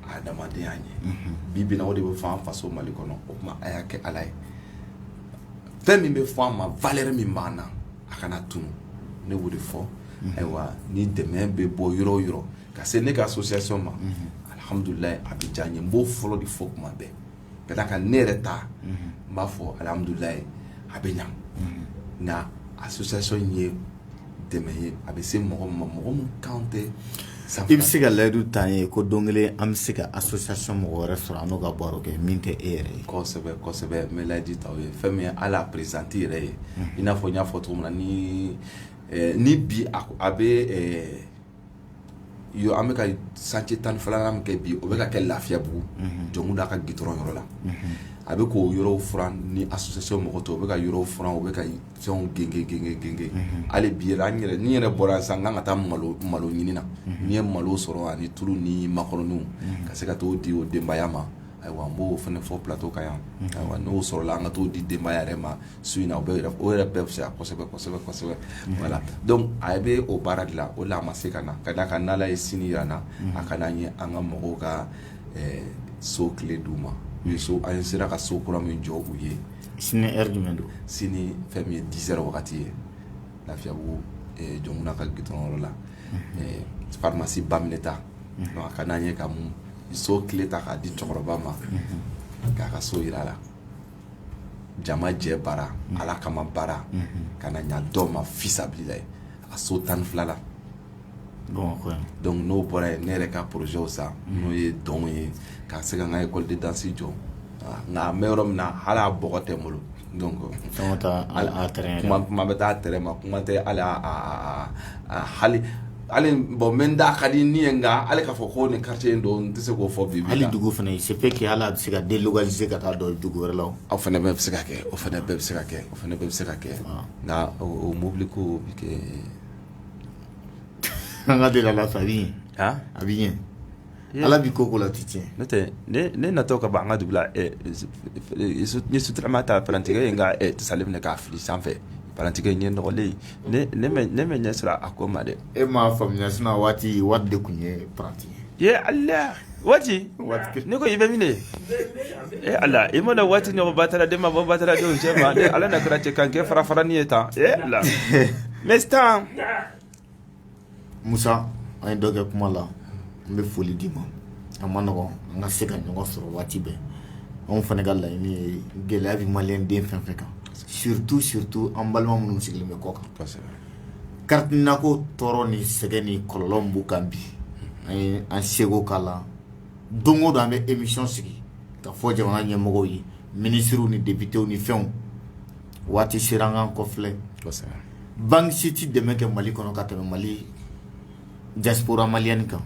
adamadenya ɲɛ bi bi in na o de bɛ fɔ faso mali kɔnɔ o tuma a y'a kɛ ala ye fɛn min bɛ fɔ an ma valeur min b'an na a kana tunun ne b'o de fɔ ayiwa ni dɛmɛ bɛ bɔ yɔrɔ o yɔrɔ ka se ne ka association ma alihamdulilayi a bɛ diya n ye n b'o fɔlɔ de fɔ kuma bɛɛ ka d'a kan ne yɛrɛ ta n b'a fɔ alihamdulilayi a bɛ ɲa nka association in ye dɛmɛ ye a bɛ se mɔgɔ ma mɔgɔ min kan tɛ i bɛ se ka layidu ta ye ko don kelen an bɛ se ka association mɔgɔ wɛrɛ sɔrɔ an n'o ka baro kɛ min tɛ e yɛrɛ ye kosɛbɛ kosɛbɛ n bɛ layidu ta ye fɛn min ye hali présidente yɛrɛ ye i n'a fɔ n y'a fɔ cogo min na ni ni bi a bɛ an bɛka chantier tan ni fila min kɛ bi o bɛka kɛ lafiyabugu Jɔnkunda ka gudɔrɔn yɔrɔ la a bɛ k'o yɔrɔw furan ni association mɔgɔ tɔw o bɛ ka yɔrɔ furan o bɛ ka fɛnw gengen hali bi an yɛrɛ n yɛrɛ bɔra san n' ka taa malo ɲini na n'i ye malo sɔrɔ ani tulu ni makɔrɔniw ka se ka taa di o denbaya ma Ayiwa an b'o fana fɔ plateau kan yan ayiwa n'o sɔrɔla an ka taa o di denbaya yɛrɛ ma su in na o yɛrɛ bɛɛ fisaya kosɛbɛ voilà donc a bɛ o baara de la o la a ma se ka na ka d'a kan n'Ala ye sini jira an na a ka di an ye an ka mɔgɔw ka so kile di u ma an sera ka so kura min jɔ u ye sini heure jumɛn don sini fɛn ye dix heures wagati ye lafiyabugu Jɔnkunda ka gudɔrɔn yɔrɔ la faramasi Baminɛta a ka di an ye ka mun so kile ta k'a di cɛkɔrɔba ma k'a ka so jira a la jama jɛ baara ala kama baara ka na ɲa dɔw ma fisabililayi a so tan ni fila la donc n'o bɔra yen ne yɛrɛ ka poroze sa n'o ye dɔn ye ka se ka n ka école de danse jɔ nka an bɛ yɔrɔ min na hali a bɔgɔ tɛ n bolo Donc kuma bɛ taa terrain ma kuma tɛ a la hali hali bon min da ka di n ye nka hali k'a fɔ ko nin quartier in don n tɛ se k'o fɔ bi hali dugu fana ça fait que hali a bɛ se ka délocaliser ka taa don dugu wɛrɛ la o fana bɛɛ bɛ se ka kɛ o fana bɛɛ bɛ se ka kɛ o fana bɛɛ bɛ se ka kɛ nka o mobili ko bɛ kɛ an ka deli ala fɛ a bɛ ɲɛ Ala b'i ko la tɛ tiɲɛ n'o tɛ ne natɔ ka bɔ an ka dugu la sotrama ta parantikɛ ye n ka sa minɛ k'a fili sanfɛ parantikɛ ɲɛ nɔgɔlen ne bɛ ɲɛ sira a ko ma dɛ e m'a faamuya waati waati de tun ye paranti ye waati ne ko i bɛ minɛ e ala i ma waati ɲɔgɔn bataraden ma bɔ bataradenw cɛma ala na kɛra cɛ kan kɛ fara fara' ye tan e la n taa musa an ye dɔ kɛ kuma la n bɛ foli d'i ma a ma nɔgɔya an ka se ka ɲɔgɔn sɔrɔ waati bɛɛ anw fana ka laɲini ye gɛlɛya bɛ maliden fɛn o fɛn kan surtout surtout an balima minnu sigilen bɛ kɔ kan carte NINA ko tɔɔrɔ ni sɛgɛn ni kɔlɔlɔ b'u kan bi an ye an seko k'a la don o don an bɛ émission sigi k'a fɔ jamana ɲɛmɔgɔw ye minisiriw ni depitew ni fɛnw waati sera an k'an kɔfilɛ banque si tɛ dɛmɛ kɛ Mali kɔnɔ ka tɛmɛ Mali diaspora malienne kan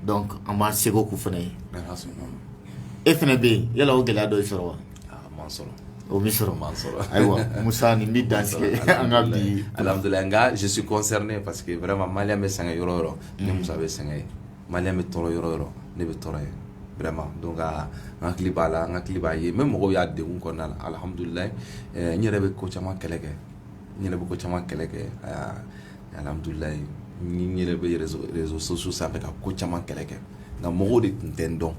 donc an b'an seko k'u fana ye e fana bɛ yen yala o gɛlɛya dɔ y'i sɔrɔ wa o m'i sɔrɔ ayiwa Musa nin bɛ dansigi an ka bi alihamudulilayi nka je suis concerné parce que vraiment maliyɛn bɛ sɛgɛn yɔrɔ o yɔrɔ ne Musa bɛ sɛgɛn yen maliyɛn bɛ tɔɔrɔ yɔrɔ o yɔrɔ ne bɛ tɔɔrɔ yen vraiment donc n hakili b'a la n hakili b'a ye même mɔgɔw y'a de kɔnɔna la alihamudulilayi n yɛrɛ bɛ ko caman kɛlɛ kɛ n yɛrɛ bɛ ko caman kɛlɛ kɛ alihamudulilayi n yɛrɛ bɛ réseaux sociaux sanfɛ ka ko caman kɛlɛ kɛ nka mɔgɔw de tun tɛ n dɔn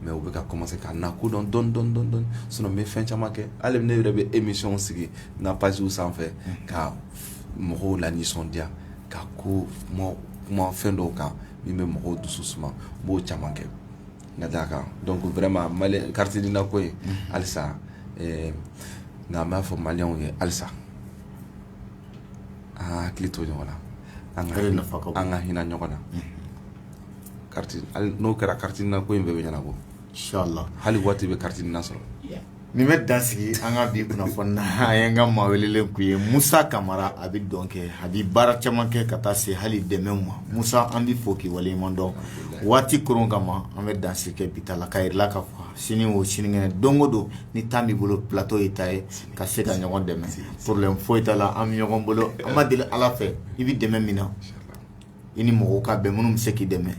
mais u bɛ ka commencer ka na ko dɔn dɔɔnin dɔɔnin sinon n bɛ fɛn caman kɛ hali ne yɛrɛ bɛ émission sigi n ka pages sanfɛ ka mɔgɔw lanisɔndiya ka ko kuma fɛn dɔw kan min bɛ mɔgɔw dusu suma n b'o caman kɛ ka d'a kan donc vraiment malien carte NINA ko in mhm. halisa eh, nka an b'a fɔ maliyɛnw ye halisa an ka hakili to ɲɔgɔn na an ka hinɛ ɲɔgɔn na mhm. n'o kɛra carte NINA ko in bɛɛ bɛ ɲɛnabɔ hali waati bɛ carte NINA sɔrɔ nin bɛ dansigi an ka bi kunnafoni na n ka maa welelen tun ye musa kamara a bɛ dɔn kɛ a bɛ baara caman kɛ ka taa se hali dɛmɛ ma musa an b'i fo k'i waleɲuman dɔn waati kɔrɔn kama an bɛ dan kɛ bi ta la ka la ka sini o sinikɛnɛ don o don ni temps b'i bolo plateau ye i ta ye ka se ka ɲɔgɔn dɛmɛ problème foyi t'a la an bɛ ɲɔgɔn bolo an b'a deli ala fɛ i bɛ dɛmɛ min na i ni mɔgɔw ka bɛn minnu bɛ se k'i dɛmɛ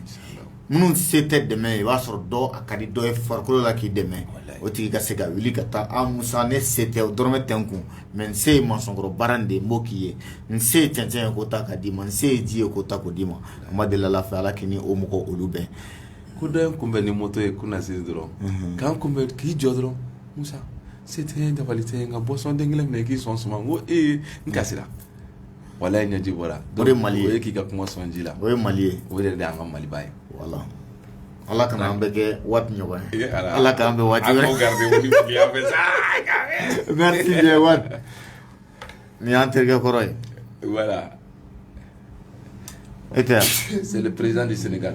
minnu se tɛ dɛmɛ i b'a sɔrɔ dɔw a ka di dɔ ye farikolo la k'i dɛmɛ o tigi ka se ka wuli ka taa a musa ne se tɛ o dɔrɔmɛ tɛ n kun mais n se ye masɔnkɔrɔ baara de ye n b'o k'i ye n se ye cɛncɛn ye k'o ta k'a d'i ma n se ye ji ye k'o ta k'o d'i ma an b'a deli ala fɛ ala k'i ni o mɔgɔ olu bɛn ko dɔ ye n kunbɛn ni moto ye kunasini dɔrɔn ka n kunbɛn k'i jɔ dɔrɔn musa se tɛ dabali tɛ yen nka boisson den kelen minɛ k'i sɔn suma ko ee n kasira Wala ye ɲɛji bɔra o de ye mali ye k'i ka kuma sɔn ji la o ye mali ye o yɛrɛ de y'an ka maliba ye voilà ala kana an bɛɛ kɛ waati ɲɔgɔn ye ala k'an bɛn waati wɛrɛ nin y'an terikɛ kɔrɔ ye voilà e tɛ c'est le président du Sénégal